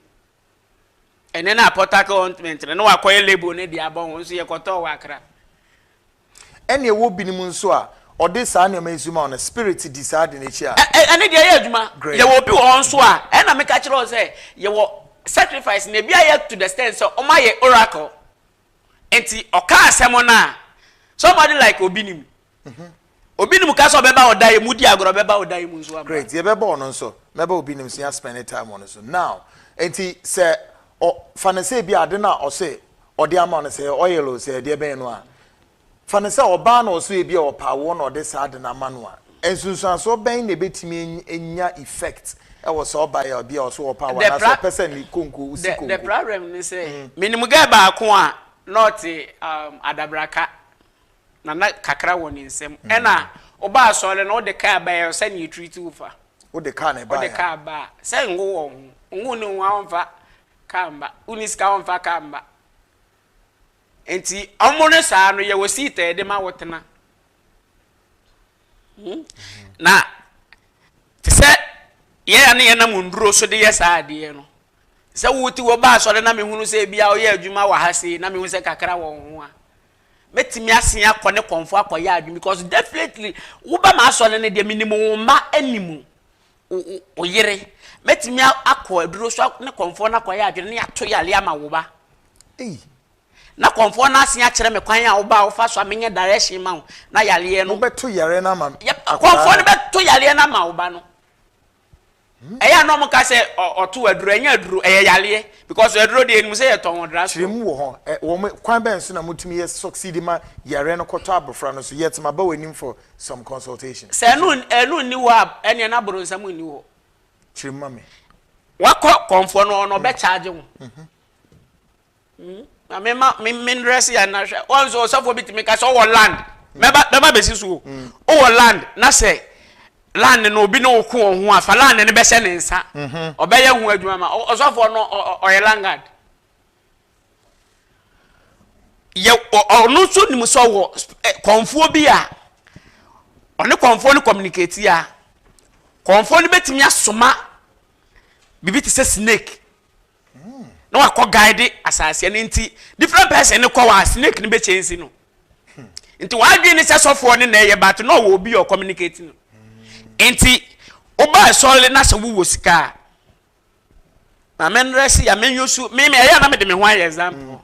ɛnɛ na pɔtake ointment no na wakɔyɛ label no de abɔ ho nso yɛkɔtɔɔ wɔ akra. Ɛna ɛwɔ binom nso a ɔde saa nneɛma yi so ma wɔn spirit di saa ade no akyi a. Ɛne deɛ ɛyɛ adwuma. Yɛwɔ obi wɔ hɔ nso a ɛna meka kyerɛ wo sɛ yɛwɔ sacrifice na ebi ayɛ to the extent sɛ wɔn ayɛ oracle nti ɔka asɛm no a somebody like obi nim Mhm. obi nim ka sɛ ɔbɛba wo dan mu di agorɔ ɔbɛba wo dan mu nso ama great yɛbɛbɔ ɔno nso mɛba obi nim so yɛaspɛne time ɔno so now nti sɛ ɔ- fa no sɛ bi ade no a ɔse ɔde ama wo no sɛ ɛyɛ oil o sɛ ɛdeɛ bɛn no a fa no sɛ ɔbaa na ɔso ebi a ɔpaa woɔ na ɔde saa ade no ama no a nsunsuansoɔ bɛn na ɛbɛtumi any- anya effect ɛwɔ saa ɔbaa yi a bi a ɔso ɔpaa wo The anaasɛ pra- ɔpɛ sɛ ne konko wosi the, the konko problem ne sɛ menim gɛ baako a na ɔte um, adabraka Na na kakra wɔ ne nsam. Ɛna ɔbaa asɔre no ɔde kaa baeɛ ɔsɛ ne yɛtiriti wo fa. Ɔde kaa na ɛbaeɛ. Ɔde kaa baa sɛ ngo wɔ ho ngo ne ho a ɔmfa kaa mba wonni sika a ɔmfa kaa mba nti ɔmo no saa no yɛwɔ seat a yɛde ma wotena hmm? na te sɛ yɛn a ne yɛnam nduro so de yɛ saa adeɛ no sɛ wote wɔ baa asɔre na mehunu sɛ ebia ɔyɛ adwuma wɔ ha sei na mehu sɛ kakra wɔ ho a Mɛtumi asen akɔ ne kɔnfo akɔyɛ adwene because definitely woba m'asɔre no deɛ menim wo mma anim wo yere mɛtumi akɔ aduro so ne kɔnfo no akɔyɛ adwene ne ato yale ama wo ba na kɔnfo no asen akyerɛ me kwan a woba a wofa so a menyɛ direction ma wo na yaleɛ no wobɛto yare no ama kɔnfo no bɛto yaleɛ no ama wo ba no Ɛyɛ a na ɔmo ka sɛ ɔtow aduro, ɛnyɛ aduro, ɛyɛ yareɛ because aduro deɛ yɛnim sɛ yɛtɔn wɔ drug store. Kyerɛ mu wɔ hɔ. Wɔn kwan bɛn so na motumi yɛ succeed ma yareɛ no kɔtɔ abofra no so yet maba w'anim for some consultation? Sɛ ɛno ɛno nni hɔ a, ɛneɛ na boronsam nni hɔ. Kyerɛ mu ma me. Wakɔ kɔmfoɔ no hɔ na ɔbɛ charge wo. Hmm? Na me ma me me ndress ya na hwɛ. Wɔn nso ɔsɔfo bi tumi ka sɛ ɔwɔ land. Mɛba mɛba bɛsi so o. Hmm. Ɔwɔ land na sɛ land no obi ne wo ko wɔn ho a fa land no bɛhyɛ ne nsa. Mhm. Ɔbɛyɛ ho adwuma ma ɔsɔfo no ɔyɛ langard. Yɛ ɔno nso nim sɛ ɔwɔ eh, kɔnfoɔ bi a ɔne kɔnfoɔ no communicate a kɔnfoɔ no bɛtumi asoma biribi te sɛ snake na wakɔ guide asase no nti different person no kɔ wa snake no bɛ change no nti wadwene ne sɛ sɔfoɔ ne na ɛyɛ but na ɔwɔ obi ɔ communicate no nti woba ɛsɔre na sɛ wowɔ sika a maame nrɛ si ya menyɛ su meme ɛyɛ na mede me ho ayɛ example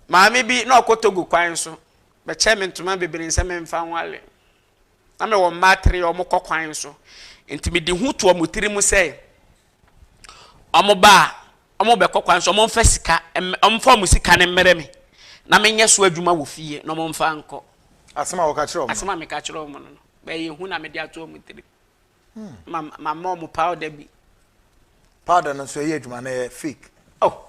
maame bi na ɔkɔ togo kwan so bɛkyɛ me ntoma bebree sɛ memfa nwale Na mewɔ mma atere a wɔkɔ kwan so, enti mede hu to wɔn tirim sɛ wɔba a, wɔbɛkɔ kwan so, wɔmfa sika, wɔmfa wɔn sika no mmrɛ me, na menyɛ so adwuma wɔ fie na wɔmfa nkɔ. Asɛm a wɔka kyerɛ wɔn. Asɛm a meka kyerɛ wɔn no, bɛyɛ hu na mede ato wɔn tirim. Hmm. Ma mama wɔn powder bi. Powder no nso ɛyɛ adwuma na ɛyɛ fake. Oh.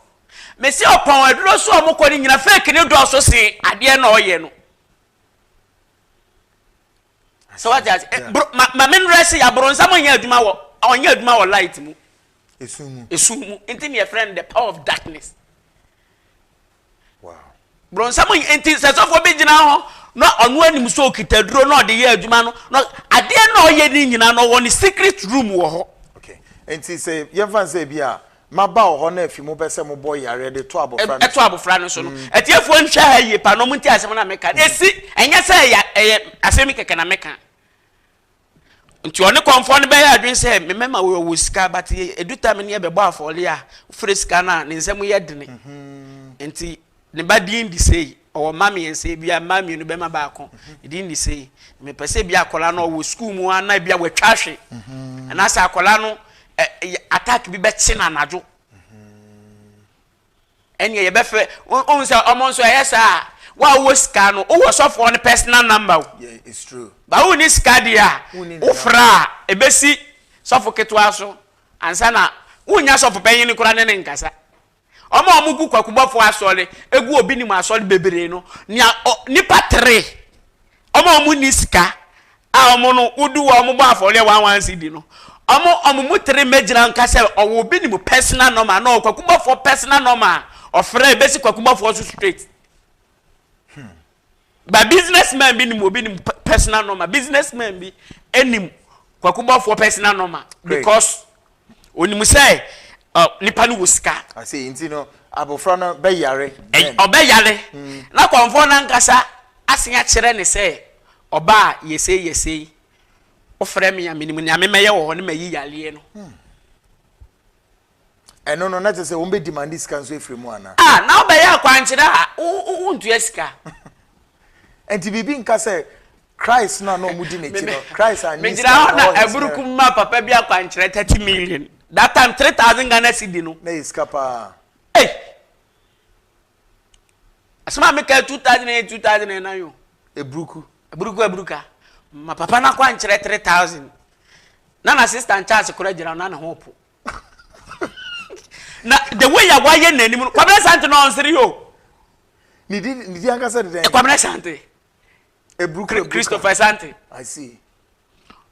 Mesi ɔpɔn aduro so a wɔkɔ no nyina fake ne dɔɔso se adeɛ na ɔyɛ no. so wate ase eh, bro ma ma me nrɛ se aboronsam ɔnyɛ adwuma wɔ ɔnyɛ adwuma wɔ light mu esu mu esu mu nti ne yɛfrɛ no the power of darkness wow boronsam ɔnyɛ nti sɛ sɔfoɔ bi gyina hɔ na ɔno anim so okita duro na ɔde yɛ adwuma no na adeɛ na ɔyɛ ne nyinaa na ɔwɔ ne secret room wɔ hɔ okay nti sɛ yɛmfa sɛ bi a Maba wɔ hɔ na afi mo pɛ sɛ mo bɔ yareɛ de to abɔfra no so. To abɔfra no so no. Atiefoɔ nhwɛ ha yie paa na wɔn ntie asɛm no a meka no. Ɛsi, ɛnyɛ sɛ ɛyɛ, ɛyɛ asɛm yi kɛkɛ na meka. Nti ɔne kɔmfoɔ no bɛyɛ adwene sɛ, me mɛma wo, ɔwɔ sika, but ɛdu time no yɛbɛbɔ afɔreɛ a, wofrɛ sika no a, ne nsam yɛ dene. Nti. Ne ba din de sei, ɔwɔ mma mmiɛnsa, ebia mma mmienu, bɛrima baako. Ne din de sei. Mepɛ sɛ ebia akwadaa no ɔwɔ sukuu mu a na ebia watwa ahwe. Anaasɛ akwadaa no ɛ yɛ attack bi bɛkye no anadwo. Ɛnneɛ yɛbɛfrɛ wo wohu sɛ wɔn nso ɛyɛ saa a wo a wowɔ sika no wowɔ sɔfoɔ no personal number o. Yeah, it's true. Ba wonni sika deɛ a Wonni ne wofrɛ a ɛbɛsi sɔfo ketewa so ansa na wonnya sɔfo panyin no koraa ne ne nkasa. Wɔn a wɔgu kwakubɔfoɔ asɔre gu wɔ Benin asɔre bebree no, nea ɔ, nnipa tere, wɔn a wɔnni sika, a wɔn no, wodu hɔ a wɔbɔ afɔreɛ one one cedi no, wɔn, wɔn mu tere mmɛgyina nka sɛ ɔwɔ Benin personal number anaa ɔwɔ kwakubɔfoɔ personal number a, ɔfrɛ, ɛbɛsi kwakubɔfoɔ so straight. Ba business man bi nim obi nim personal number business man bi nim kwakubɔfoɔ personal number because onim sɛ uh, nipa no wɔ sika. ase ah, nti no abofra no bɛyare. ɔbɛyare hmm. na kɔnfɔn nankasa asen akyerɛ ne sɛ ɔbaa yɛsei yɛsei wofrɛ me a menim nea memɛyɛ wɔ hɔ ne mayi yareɛ no hmm. Ɛno no, na kyerɛ sɛ wɔn bɛ demande sika nso afiri mu anaa? Ah, na wobɛyɛ akwankyerɛ a, wontua sika. Nti biribi nka sɛ Christ no a na wɔn di n'akyi no, Christ anyi sika. Megyina hɔ na aburuku mma papa bi akwankyerɛ thirty million. That time three thousand Ghana cedi no. Na yɛ sika paa. Hey! Asɛm a meka two thousand eight two thousand nine nine o. Eburuku. Eburuku eburuka. Ma papa no akwankyerɛ three thousand. Na na sista nkyɛnse kora gyina na ne ho po. na the way a wayɛ n'anim no kwabena sante na ɔnsere yi o. ne di ne di ankasa de dɛn. kwabena sante. eburu kura eburu christopher sante. i see.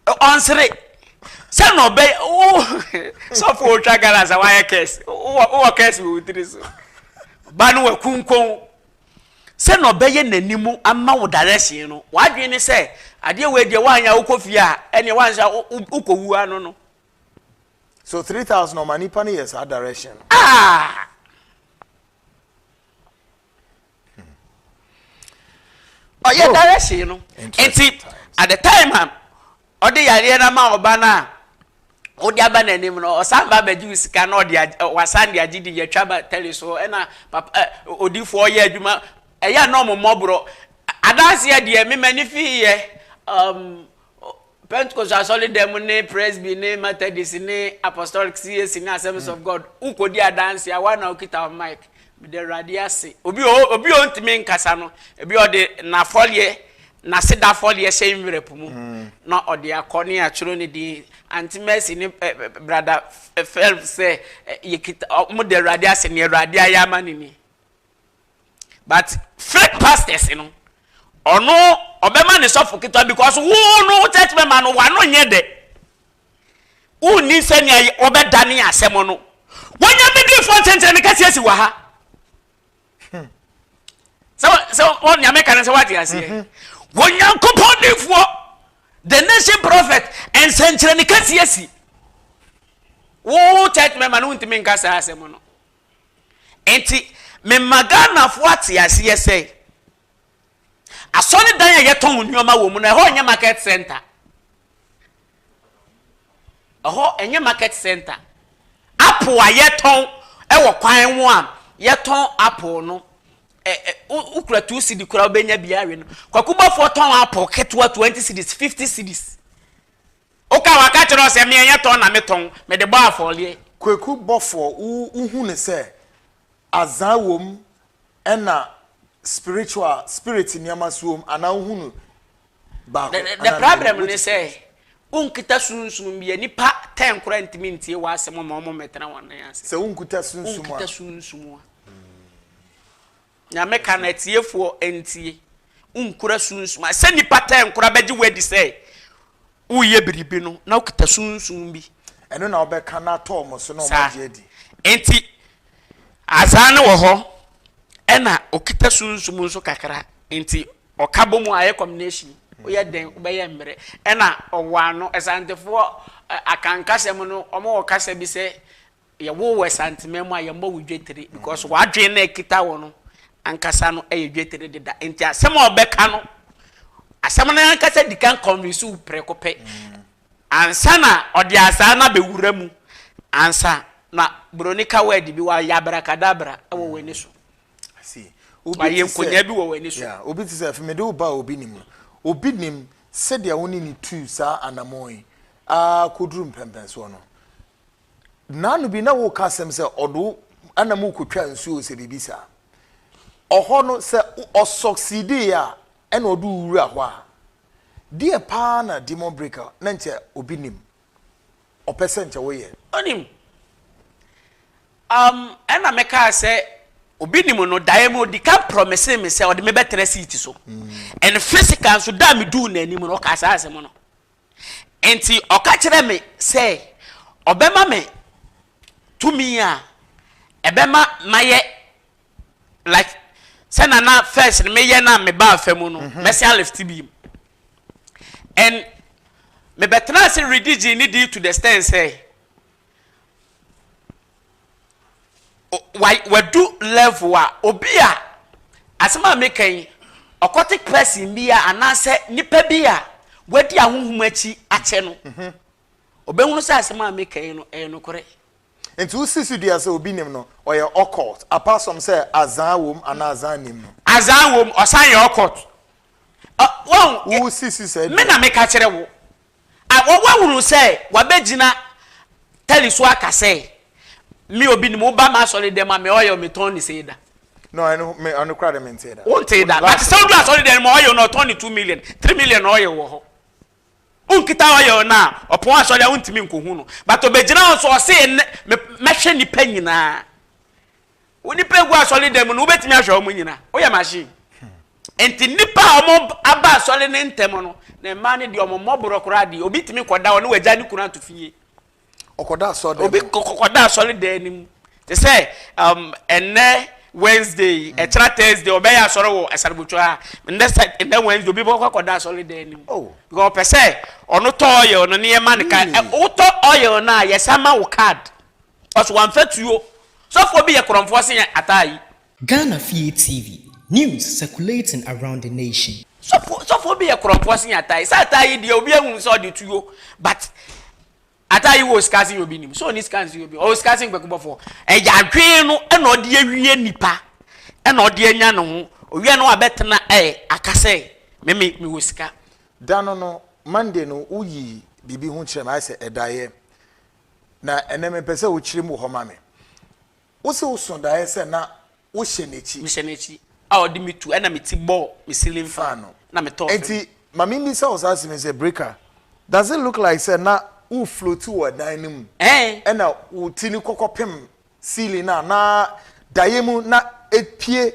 ɔnsere sɛ na ɔbɛ wo sɔfo otwa gala sa wayɛ kɛse wowɔ kɛse wɔ wotiri so ba no wɔ kunkun sɛ na ɔbɛyɛ n'anim ama wo direction no wadwene ne sɛ adeɛ wɔ adiɛ wanyɛ wokɔ fie a ɛneɛ wanhyɛ wokɔ wu ano no so three thousand ɔma nipa no yɛ saa direction ah ɔyɛ direction no nti at the time a ɔde yareɛ no ma ɔba no a wode aba n'anim no ɔsan ba abɛgye wo sika na ɔde wasan de agye di yɛtwa ba tɛli so ɛna papa ɛ odifoɔ yɛ adwuma ɛyɛ na ɔmo mmɔborɔ adanseɛ deɛ mema ne fi yɛ um, Pentekost Asɔredan mu ne Presby ne Methodist ne Apostolic, CAC ne Assemblies of God, wokɔdi adanse a, wo ara na wokita wo mic. Meda Awurade ase. Obi wɔ hɔ, obi a ɔntumi nkasa no, ebi a ɔde n'afɔreɛ, n'aseda afɔreɛ hyɛ envelope mu na ɔde akɔ ne yɛatwerɛ ne din. Aunty Mercy ne ɛ, ɛ, Brother Phelps sɛ ɛ, yɛkita, ɔ, wɔda Awurade ase, nea Awurade ayɛ ama no ni. but fake pastors no ɔno ɔbɛma ne sɔfo ketewa because wo no wo church member no wano nyɛ dɛ wonni sɛnea wɔbɛdane asɛm no wɔnya bidifoɔ nkyɛnkyɛn no kɛseɛ si wɔ ha sɛ ɔnea meka no sɛ woate aseɛ mhm. wɔnyankopɔn difoɔ the nation prophet nsɛnkyerɛ ne kɛseɛ si wo church member no wontumi nka saa asɛm no Enti mema Ghanafoɔ ate aseɛ sɛ, asɔredan a yɛtɔn nneɛma wɔ mu no, ɛhɔ nyɛ market center. Ɛhɔ nyɛ market center. Apple a yɛtɔn wɔ kwan ho a yɛtɔn apple no, wokura two cedi koraa wobɛnya bi awe no. Kwakubɔfoɔ tɔn apple ketewa twenty cedis, fifty cedis. Oka, Waka kyerɛ wo sɛ me ɛnyɛ tɔn na me tɔn, me de bɔ afɔreɛ. Kweku, Bɔfoɔ wo hu no sɛ azaa wom ɛna spiritual, spirit nneɛma so wom anaa wo hu no baako anaa mmienu? The problem ne sɛ wo nkita sunsum bi a nipa ten koraa ntumi ntie wo asɛm ma wɔn mmɛtena wɔn nan ase. Sɛ wo nkuta sunsum a. Wo nkita sunsum a. Nyame ka no atiefoɔ ntie, wonkura sunsuma. Sɛ nnipa tɛn koraa bɛgye wo adi sɛ woyɛ biribi no, na wokita sunsum bi. Ɛno na wobɛka no ato wɔn so na wɔn agye adi. Enti Azani wɔ hɔ, ɛna okita sunsum nso kakra. Enti ɔka bɔ mu a ɛyɛ combination. Woyɛ dɛn wobɛyɛ mmerɛ. Ɛna ɔwɔ ano. Asantefoɔ Akanka sɛm no, wɔn wɔ kasa bi sɛ Yɛwoo wo Asanteman mu a yɛmmɔ wo dwetire because w'adwene no a ɛkita wo no ankasa no yɛ dwetire deda nti asɛm a ɔbɛka no asɛm no ankasa di kan convince wo prɛko pɛ ansa na ɔde asaa no abɛwura mu ansa na buroni ka word bi wayɛ abrakadabra wɔ w'ani so wayɛ nkonyaa bi wɔ w'ani so. obi te sɛ afei mede wo ba obi nim no obi nim sɛdeɛ wo ne ne tuu saa anamɔn yi aa kɔduru mpɛmpɛnsoɔ no Nnaano bi na woka asɛm sɛ ɔde wo ɛna mu kotwa nsuo sɛ biribi saa. Ɔhɔ no sɛ ɔsɔksiidii a ɛna ɔde wo wura hɔ a, deɛ paa na demon breaker na nkyɛ obi nim. Ɔpɛ sɛ nkyɛ woyɛ. Ɔnim. Um, ɛna mekaa sɛ obi nim no daeɛ mu ɔdi kan promisee me sɛ ɔde me bɛtena seat so. Mm. And physical nso da a meduu n'anim no ɔkaa saa asɛm no. Enti ɔka kyerɛɛ me sɛ ɔbɛma me tumi a ɛbɛma mayɛ like sɛ na na first no meyɛ na me baa fa mu no mhm. mɛsan lift bi mu and mebɛtena ase redi gye ne di to the stand sɛ Wadu level a obi a asɛm a meka yi occultic person bi a anaasɛ nipa bi a wadi ahohom akyi akyɛ no ɔbɛhunu sɛ asɛm a meka yi no ɛyɛ nokorɛ. Nti wosi so dua sɛ obi nim no ɔyɛ occult apart from sɛ azan wom anaa azan nim no. Azan wom ɔsan yɛ occult. Wosi so saa dua. Me na meka kyerɛ wo. a wɔahunu sɛ wɔabɛgyina tɛli so aka sɛ, Me obi nim wo ba m'asɔre dɛm a, me ɔyɔ metɔn ne sei da. No, ɛno me ano kura de me ntee da. Wo ntee da, but sɛ odu asɔre dɛm ma ɔyɔ no ɔtɔn ne two million, three million na ɔyɔ wɔ hɔ. Wo nkita ɔyɔ no a, ɔpɔn asɔre a wo ntumi nkohu no, but ɔbɛgyina hɔ nso ɔse mɛhwɛ nipa nyinaa. wo nipa egu asɔre dan mu no wobɛtumi ahwɛ wɔn nyina woyɛ machine hmm. nti nipa a wɔn aba asɔre ne ntɛm no na mmaa no deɛ wɔn mmɔborɔ koraa deɛ obi tumi kɔda wɔn ne wagya ne kunu ato fie ɔkɔda asɔre dan obi kɔkɔda asɔre dan no mu te sɛ um, ɛnɛ wednesday hmm. ɛkyerɛ thursday ɔbɛyɛ asɔre wɔ asarabotwa a ɛnɛ sɛ ɛnɛ wednesday obi bɔ kɔkɔda asɔre dan no mu oh. because ɔpɛ sɛ ɔno tɔ ɔyɛ ɔno ne yɛ ma ne ka hmm. wotɔ ɔyɛ ɔno a yɛsan ma wo card. Cos wamfa tuo. Sɔfoɔ bi yɛ korɔmfoɔ sen ataa yi. Ghana fie TV, news circulating around the nation. Sɔfoɔ sɔfoɔ bi yɛ korɔmfoɔ sen ataa yi. Sɛ ataa yi deɛ obiara nhunu sɛ ɔde tuo but ataa yi wɔ sika sen obi nim. Sɛ ɔnni sika nsen obi ɔwɔ sika sen kwaku bɔfoɔ. Ɛyɛ adwene no ɛna ɔde awie nipa ɛna ɔde anya ne ho ɔwie no wabɛtena ɛ aka sɛ me me mewɔ sika. Da no no, Monday no, woyii biribi ho kyerɛɛ me, ayɛ sɛ ɛdaeɛ. Na ɛnnɛ mepɛ sɛ wokyerem wɔ hɔ ma me. Wose woso daeɛ sɛ na wohyɛ n'akyi. Mehyɛ n'akyi a ɔde me tu ɛna me ti bɔ me ceiling fan no na me tɔ fam. Enti ma memmisa wo saa asem yi sɛ, Breaker, does it look like sɛ na wo floati wɔ ɛdan no mu ɛna wo ti no kɔkɔpem ceiling no a na daeɛ mu na ɛpue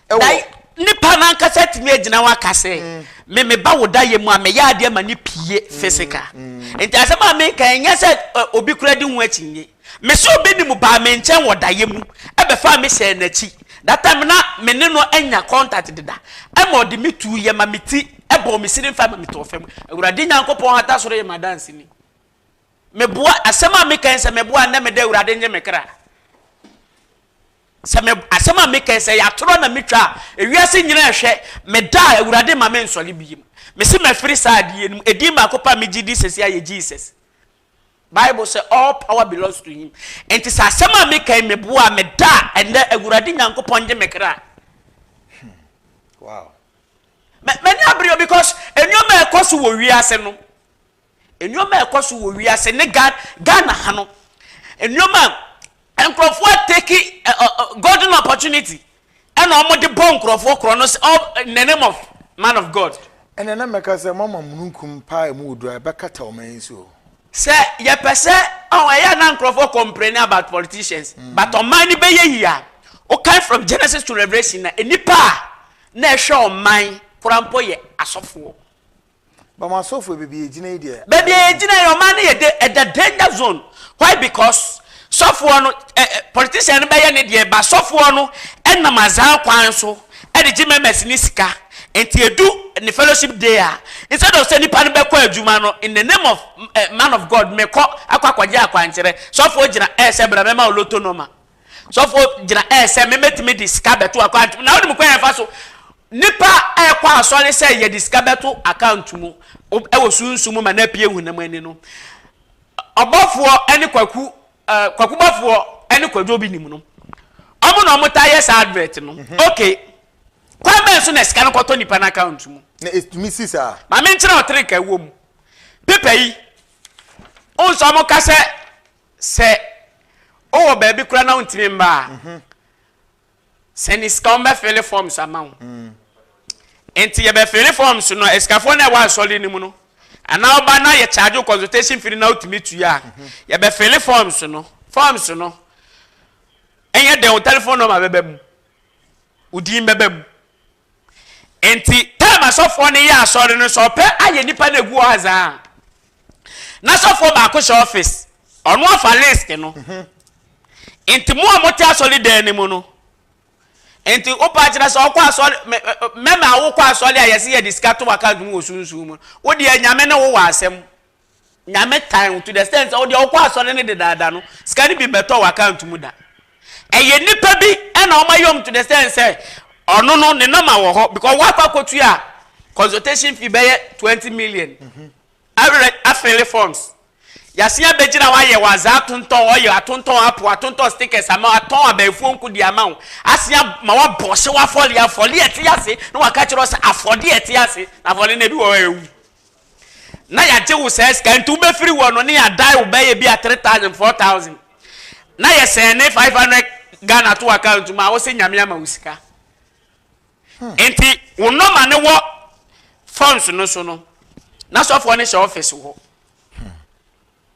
wɔ. Nipa no ankasa atumi agyina hɔ aka sɛ mm. me meba wo daeɛ mu a meyɛ adeɛ ma no pie mm. physical mm. nti asɛm a meka ɛnyɛ sɛ obi kura di ho akyi nye me sɛ obi ne mu baa me nkyɛn wɔ daeɛ mu ɛbɛfa me hyɛ n'akyi that time na me ne no anya contact deda ɛma ɔde me tu yɛ ma me ti ɛbɔ me sini nfa ma me tɔ fam awurade nyankopɔn hata soro yɛ ma dansi ni Meboa, asɛm a meka yi sɛ meboa a nnɛ meda Awurade ngye me kra. Sɛ me asɛm a meka yi sɛ yɛ atorɔ na metwa a ewiase nyina ɛhwɛ meda a Awurade ma me nsɔre biem. Mese mafiri saa adeɛ no mu. Edin baako pɛ a megye di sɛsi ayɛ Jesus. Bible sɛ all power belongs to him. Nti sɛ asɛm a meka yi meboa a meda a ɛnnɛ Awurade Nyankopɔn ngye me kra. Hmm. Wow. Mɛni abere because nneɛma ɛkɔ so wɔ wiase no. Nneɛma a ɛkɔ so wɔ wiase ne Ghana Ghana ha no, nneɛma a nkurɔfoɔ ateki ɛ ɔ ɔ golden opportunity ɛna wɔde bɔ nkurɔfoɔ korɔ no sɛ ɔ in the name of man of God. Ɛnna na mɛka sɛ, Moama mununkum pa a emu wɔ duru a ɛbɛkata ɔman yi so. Sɛ yɛpɛ sɛ, ɔho, ɛyɛ a na nkurɔfoɔ complaining about politicians, but ɔman no bɛyɛ yie a, wokan from Genesis to Revelation a, nnipa a na ɛhwɛ ɔman koraa mpo yɛ asɔfoɔ. But mo asɔfo yɛ baabi a egyina yi deɛ. Baabi a egyina yi ɔman no yɛ de ɛda danger zone why because sɔfoɔ no ɛ ɛ politician no bɛyɛ ne deɛ but sɔfoɔ no ɛnam azaa kwan so ɛde gye members no sika nti edu ne fellowship day a instead of sɛ nipa no bɛkɔ adwuma no in the name of ɛ man of God mekɔ akɔ akɔgye akwankyerɛ sɔfoɔ gyina ɛɛsɛ bra mɛma wo lotto nɔma. Sɔfo gyina ɛsɛ me mɛtumi de sika bɛto account mu na wonim kwan ɛfa so nipa ɛkɔ asɔre sɛ yɛde sika bɛto account mu ɛwɔ sunsun mu ma na pie hunam ani no ɔbɔfoɔ ɛne kwaku ɛɛ kwaku bɔfoɔ ɛne kwadwo bi nim no ɔmo na ɔmo ta yɛ saa advert no mhm. okay kwan bɛn so na sika no kɔtɔ nipa no account mu na ɛtumi si saa maame nkyerɛ ɔtere ka ɛwɔ mu pepa yi ɔnsɔ ɔmo ka sɛ Sɛ ɔwɔ baabi koraa na ɔntumi mma a, sɛ ne sika wɔn bɛ fele forms ama wo. Nti yɛ bɛ fele forms no asikafoɔ na ɛwɔ asɔre no mu no. Anaa ɔba na yɛ charge wo consultation fee na ɔtumi tua. Yɛ bɛ fele forms no. Forms no ɛnyɛ dɛn wo telephone number bɛba mu, wo din bɛba mu, Enti taim a sɔfoɔ no yɛ asɔre no sɛ ɔpɛ ayɛ nnipa no agu hɔ adze a, na sɔfoɔ baako hyɛ ɔfis, ɔno afa list no. Mhm. Enti mo a mote asɔre dan no mu no, enti wopa akyerɛ sɛ ɔkɔ asɔre mɛma wokɔ asɔre a yɛse yɛde sika to w'akaunt mu wɔ sunsum mu, wodeɛ Nyame ne wo wɔ asɛm. Nyame tan wo to the extent sɛ wodeɛ wokɔ asɔre no dedaada no sika no bi mmɛtɔ wo account mu da. Ɛyɛ nnipa bi na wɔn ayɛ wɔn to the extent sɛ ɔno no ne number wɔ hɔ because wakɔ akɔtua consultation fee bɛyɛ twenty million awerɛ afeele forms yɛasen abɛgyina hɔ ayɛ wɔ azaa atontɔn ɔyɛ atontɔn apo atontɔn stickers ama wo atɔn abɛɛfuo nko di ama wo asen ama wabɔ ɔhyew afɔle afɔle ɛte ase na waka kyerɛ wo sɛ afɔde ɛte ase na afɔle no ebi wɔ hɔ a ɛwu na yɛagye wo saa sika nti wobɛfiri hɔ no ne yɛadae wo bɛyɛ bi a 3000 4000 na yɛsɛne 500 Ghana to account mu a wose nyame ama wo sika hmm. nti wo nɔma ne wɔ phones no so no na sɔfoɔ no hyɛ office hɔ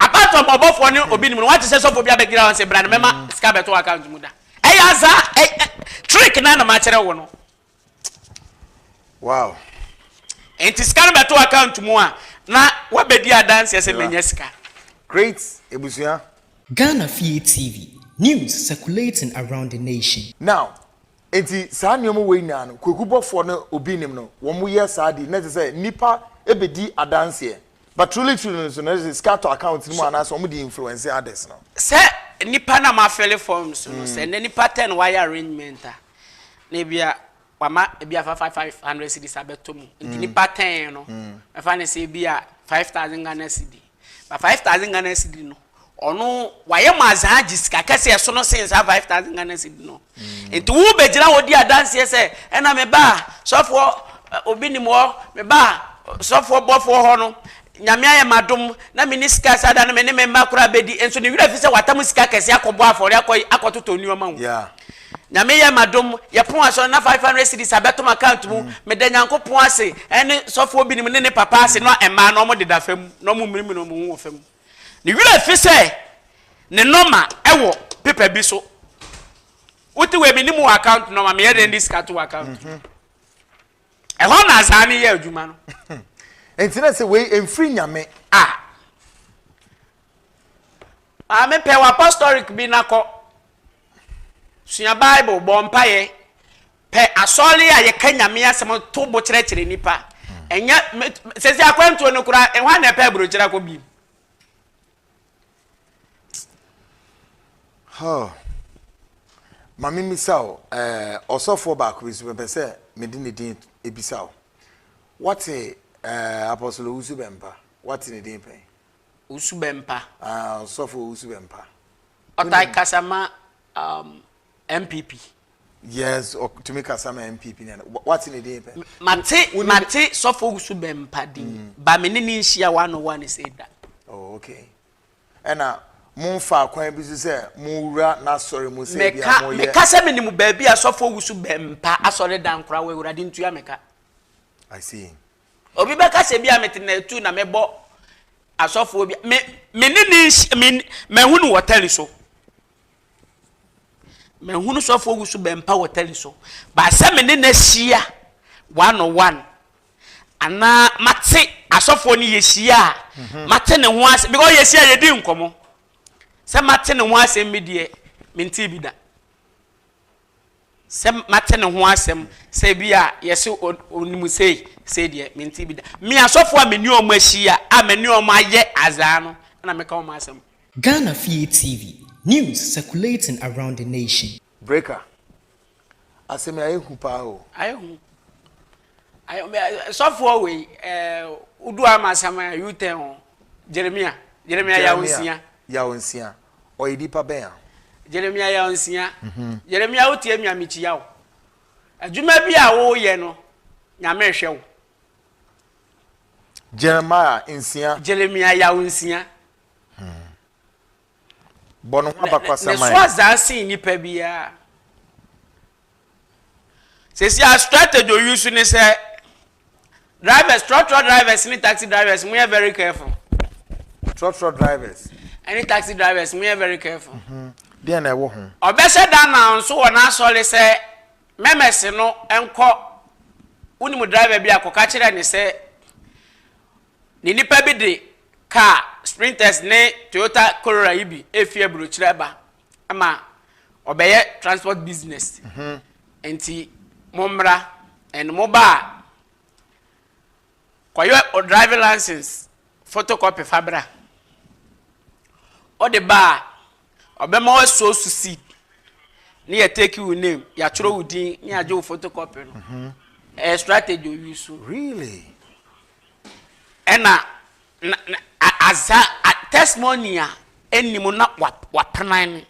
Apart from ɔbɔfoɔ ne obi nim no, wate sɛ sɔfoɔ bi abɛgyina hɔ sɛ bra no mɛma sika bɛto account mu da. Ɛyɛ aza trick na na makyerɛ wo no. Wow. Nti sika no bɛto account mu a na wabɛdi adanseɛ sɛ manya sika. Great ebusua. Ghana Fie TV, news circulating around the nation. Now, Enti saa nneɛma wei nyinaa no, Kweku bɔfoɔ no obi nnim no, wɔn yɛ saa di, na kyerɛ sɛ nnipa bɛdi adanseɛ. But truly truly no nso no, na kyerɛ sɛ sika tɔ account no mu anaasɛ wɔn de influence others no. Sɛ nnipa no a wɔafele forms no, sɛ nnɛ nnipa ten wɔayɛ arrangement a, na ebia wɔama ebi afa five five hundred cedis abɛtɔ mu, nti nnipa ten no, mɛfa no sɛ ebia five thousand Ghana cedi. Na five thousand Ghana cedi no ɔno wayɛ mo adzaa agye sika kɛse a ɛsono sen saa five thousand Ghana cedi no. Nti wo bɛgyina hɔ di adanseɛ sɛ ɛna me baa sɔfoɔ obi nim hɔ, me baa sɔfoɔ bɔfoɔ hɔ no Nyame ayɛ me adom na menni sika saa da no me ne me mma koraa bɛdi nso ne werɛ afi sɛ watam sika kɛse akɔbɔ afɔre akɔ akɔtotɔ nneɛma o. Yeah. Nyame yɛ ma dom yɛpon asɔre na 500 cedis a bɛto m'account mu meda Nyankopɔn ase ɛne sɔfoɔ binom ne ne papa ase no a mmaa no ɔmo deda fam na ɔmo mmirimiri ɔmo ho wɔ fam ne werɛ fi sɛ ne nɔma ɛwɔ paper bi so wote wei menim wɔ account nɔma meyɛ dɛn de sika to wɔ account mu ɛhɔ na azaa ne yɛ adwuma no nti na sɛ wei mfiri Nyame a Maame pɛ w'apostolic bi na kɔ. Sua Bible, bɔ mpaeɛ. Pɛ asɔre a yɛka Nyame asɛm to bo kyerɛkyerɛ nnipa. Ɛnyɛ sɛsɛ akwantuo no koraa ɛhɔ a na ɛpɛ aburokyerɛ akɔ bi. Oh. Maame misa o, eh, ɔsɔfoɔ baako bi so mepɛ sɛ mede ne din ebisa o. Wate eh, Apostle Owusu Bɛmpa, wate ne din pɛn? Owusu Bempah. Ah, Ɔsɔfo Owusu Bempah. Ɔtae kasa ma um, MPP. Yes, ɔtumi kasa ma MPP na wate ne din pɛ. Mate mate Sɔfo Owusu Bempah din. Mm. Ba me ne ne nhyia wa no wa ne sɛ da. Oh, okay. Ɛna momfa akwan bi so sɛ mowura n'asɔre mu sɛ bi a moyɛ. Meka sɛ menim baabi a Sɔfo Owusu Bempah asɔre dan koraa wɔ Awurade ntua meka. I see. Obi bɛka sɛ ebia mete Natu na mebɔ asɔfoɔ bi a, me, me ne ne nhyia, me, mahu no wɔ tɛli so. Mahu no sɔfoɔ wu so bɛmpa wɔ tɛli so. Baasɛ me ne no ahyia one on one. Anaa mate asɔfoɔ no yɛhyia a, mhm. mate ne ho asɛm, because yɛhyia yɛdi nkɔmmɔ. Sɛ mate ne ho asɛm bi deɛ, mentee bi da. Sɛ mate ne ho asɛm sɛ ebi a yɛse onim sei sei deɛ mente bi da. Me asɔfoɔ a mene wɔn ahyia a mene wɔn ayɛ azaa no na meka wɔn asɛm. Ghana Fie TV, News circulating around the nation. Breaker, Asɛm yi ayɛ hu paa o. Ayɛ hu. Sɔfoɔ wei wodu ama asɛm a U-turn o. Jeremia, Jeremia Yawo Nsia. Jeremia Yawo Nsia. Ɔyɛ nipa bɛn a? Jeremia yɛ ɔnsia. Jeremia wo tie me a me kyia wo. Adwuma bi a wo yɛ no nyame rehwɛ wo. Jeremiah nsia. Jeremia yɛ wo nsia. Hmm. Bɔ no ho abakwasɛm ayɛ. Ne so azaa sen nipa biara. Sɛsi a strategy oyi so ne sɛ drivers trɔtrɔ drivers ne taxi drivers mo yɛ very careful. Trɔtrɔ drivers. Ɛne taxi drivers mo yɛ very careful. Mhm. Deɛ na ɛwɔ ho. Ɔbɛhyɛ da na nso wɔ n'asɔre sɛ mɛmɛse no nkɔ wonim driver bi a kɔka kyerɛ ne sɛ ne nipa bi de car sprinters ne Toyota Corolla yi bi efi aburokyerɛ ba. ama ɔbɛyɛ transport business mhm. nti mommra and mo ba a kɔyɛ o driving license photocopy fa bra ɔde ba a ɔbɛma wasuo so seed ne yɛ take wo name yɛatwerɛ wo din ne yɛagye wo photocopy no mhm. ɛyɛ strategy oyi so really ɛna Na na a adza a testimony a enni mu na wa wapenan no,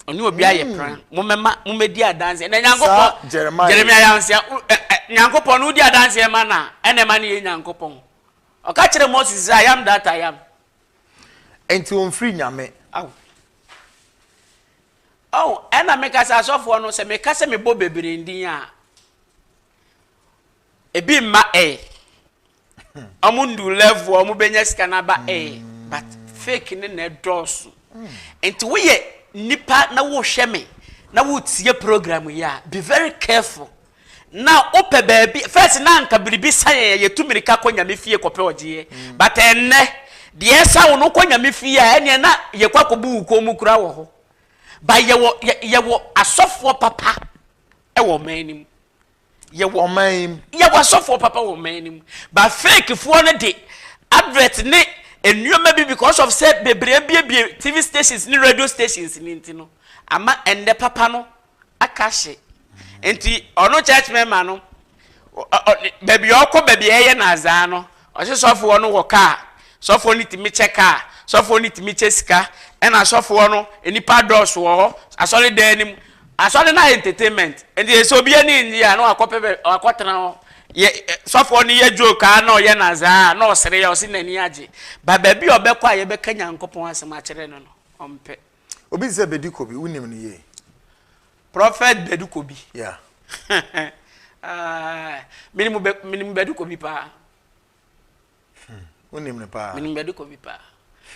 ɔnye obi ayɛ peran, mommɛma mommɛdi adanseɛ na Saa Nyankopɔn, Jeremiah yi. Jeremiah Yansea, wo ɛ ɛ Nyankopɔn no wodi adanseɛ ma no a, ɛna ɛma no yɛ Nyankopɔn. Ɔka kyerɛɛ Moses sɛ, I am that I am. Enti ɔmfiri Nyame. Ao. Ɔho, ɛna meka sɛ asɔfoɔ no, sɛ meka sɛ mebɔ bebree ndin a, ebi mma ɛ. ɔmo ndu level a ɔmo benya sika no aba ɛ mm. but fake ne na ɛdɔɔso mm. nti woyɛ nipa na wohwɛ me na wotie program yi a be very careful na wopɛ baabi first na anka biribi sa yɛn yɛtu mirika kɔ nyame fie kɔpɛ ɔgyeɛ mm. but ɛnnɛ deɛ ɛsa wo no kɔ nyame fie a ɛneɛ na yɛkɔ akɔbu wo kɔn mu kura wɔ hɔ ba yɛwɔ yɛwɔ asɔfoɔ papa ɛwɔ ɔman no mu yɛ wɔ ɔman yi mu. Yɛ wɔ asɔfoɔ papa wɔ ɔman no mu. Ba fake foɔ no de advert ne nneɛma bi because of sɛ bebree abiebie TV stations ne radio stations ne nti no ama ɛnɛ papa no aka hye. Nti ɔno church member no baabi a ɔkɔ baabi a ɛyɛ no azaa no Ɔse sɔfoɔ no wɔ car, sɔfoɔ no tumi kyɛ car, sɔfoɔ no tumi kyɛ sika, ɛna asɔfoɔ no nnipa adɔɔso wɔ hɔ, asɔre dan no mu, asɔre no ayɛ entertainment, nti sɛ obi ani nnye a na wakɔ pɛ bɛ wakɔ tena hɔ, yɛ sɔfoɔ no yɛ joke a na ɔyɛ nazaa a na ɔsere a ɔse n'ani agye, but baabi a ɔbɛkɔ a yɛbɛka Nyankopɔn asɛm akyerɛ no no ɔmpɛ. Obi te sɛ Bedi Kobi, wunim no yie? Prophet Bedi Kobi? Yeah. Ah, minim Be- minim Bedi Kobi paa. Hmm, wunim no paa? Minim Bedi Kobi paa.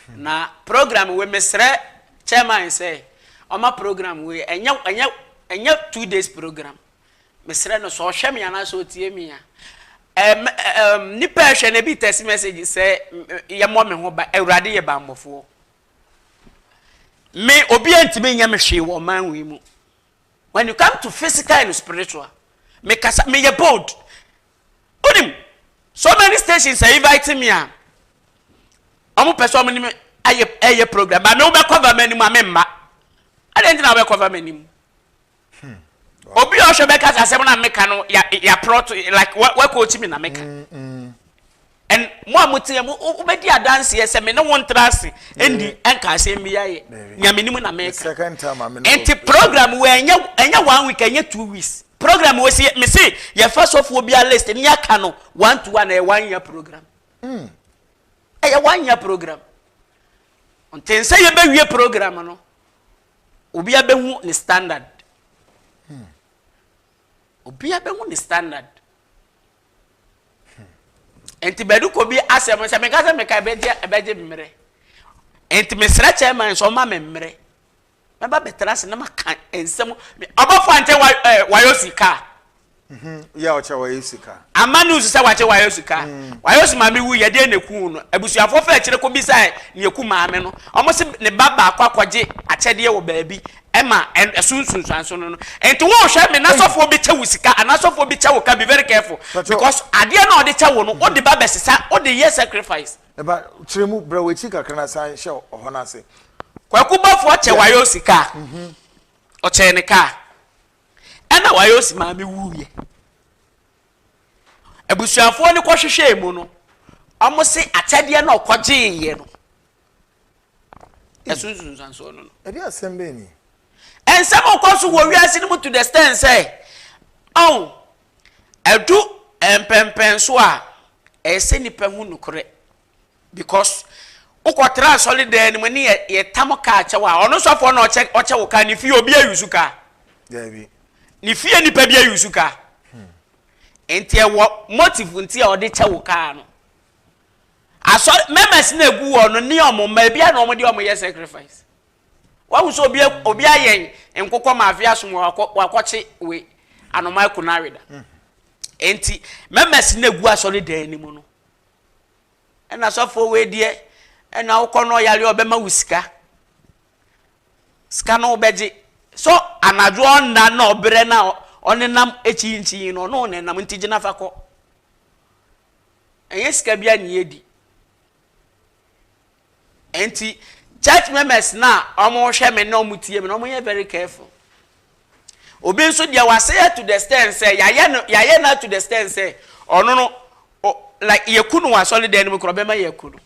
Hmm. Na program we mesrɛ chairman sɛ ɔma program we ɛnyɛ ɛnyɛ ɛnyɛ two days program. Mesrɛ no sɛ ɔhwɛ me anaasɛ ɔtie me a. Um, um, nipa ɛhwɛ na ebi tɛsi message sɛ yɛmmɔ me ho ba awurade yɛ bammɔfoɔ. Me obi antumi nyɛ me hwee wɔ ɔman wei mu. When you come to physical and spiritual, me kasa me yɛ bold. Onim so many stations are inviting me a wɔn pɛ sɛ wɔn ne me ayɛ ɛyɛ program ba me wobɛkɔ va m'anim a me mma. Adɛn nti na wobɛkɔ va m'anim? Obi a ɔhwɛ bɛka sɛ asɛm no a meka no yɛaplɔt like woakɔɔkyi me na meka. And mo a moteɛ mo wobɛdi adanseɛ sɛ me ne wo ntra ase ɛndi ɛnka asɛm bi ayɛ nea menim na meka. Nti program wɔ ɛnyɛ one week ɛnyɛ two weeks program wɔ si me se yɛfa sɔfoɔ bi a list ne yɛaka no one to one ɛyɛ one year program. Hmm. Ɛyɛ one year program. Nti nsɛ yɛbɛwie program no. Obia bɛhu ne standard. Hmm. Obia bɛhu ne standard. Hmm. Nti bɛdu kɔ bi asɛm sɛ meka sɛ meka ɛbɛgye ɛbɛgye mmerɛ. Nti mesrɛ chairman sɛ ɔma me mmerɛ. Mɛba bɛtena ase na maka nsɛm ɔbɔfo ante wayɔ sika. Yɛ a ɔkyerɛ wayɛ sika. Ama no nsu sɛ wakyerɛ wayɛ sika. Wayɛ osu maame wui yɛ deɛ na ekum no. Abusuafoɔ faa akyire kɔ bisaɛ nea ekum maame no. Wɔn se ne ba baako akɔgye akyɛdeɛ wɔ baabi ɛma ɛso nsunsuanso no no. Nti wo hwɛ me n'asɔfoɔ bɛkyɛ wo sika anaa asɔfoɔ bi kyɛ wo ka be very careful because adeɛ no a ɔde kyɛ wo no wode ba bɛsesa wode yɛ sacrifice. Me ba kyerɛ mu brɛ w'akyi kakra na san hyɛ ɔhɔ no ase. Kwaku Bɔfoɔ kyɛ wayɛ sika. Ɔkyɛɛ ne car. Ɛna Wayosi maame wuiɛ. Abusuafoɔ no kɔhwehwɛɛ mu no, wɔn se akyɛdeɛ na ɔkɔgyeeɛ no. Yɛso nsunsuansoɔ no no. Ɛde asɛm bɛn ni? Nsɛm ɔkɔ so wɔ wiase no mu to the stand sɛ, ɔn, ɛdu mpɛmpɛnso a, ɛsɛ nipa hu nokorɛ. Because wokɔ tra asɔre dan no mu ne yɛ yɛ tam kaa kyɛw a ɔno sɔfoɔ na ɔkyɛ ɔkyɛ wo kaa ne fie obi ayusu kaa. Dabi. Ne fie nipa bi ayusu kaa. Hmm. Nti ɛwɔ motive nti a ɔde kyɛ wo kaa no. Asɔre members na egu wɔ no ne ɔmo mma ebi a na ɔmo de ɔmo yɛ sacrifice. Wahu sɛ obi hmm. obi ayɛ nkokɔ ma afi asom wakɔ wakɔkye we anoma kunaweda. Hmm. Nti members na egu asɔre dan no mu no. ɛna sɔfoɔ wei deɛ ɛna wokɔ no ɔyare ɔbɛma wo sika sika no wobɛgye so anadwo ɔnna na ɔbrɛ na ɔnenam akyinkyin no ɔno ɔnenam nti gyina fa kɔ ɛnyɛ sika bi a ne yɛdi Enti church members no a wɔhwɛ me na wɔtie me no, wɔyɛ very careful. Obi nso deɛ wasɛe to the extent sɛ yɛayɛ no yɛayɛ no to the extent sɛ ɔno no like yɛku no wɔ asɔredan no mu korɔ bɛma yɛaku no.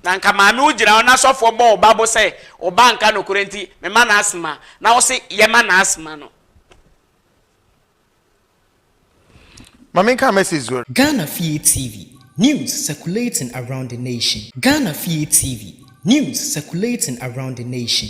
na nka maame wo gyina hɔ na sɔfoɔ bɔ wo ba bo sɛ wo ba nka nokorɛ nti mema no asoma na wo se yɛma no asoma no Ma me nka message zuer. Ghana Fie TV, News circulating around the nation Ghana Fie TV, News circulating around the nation.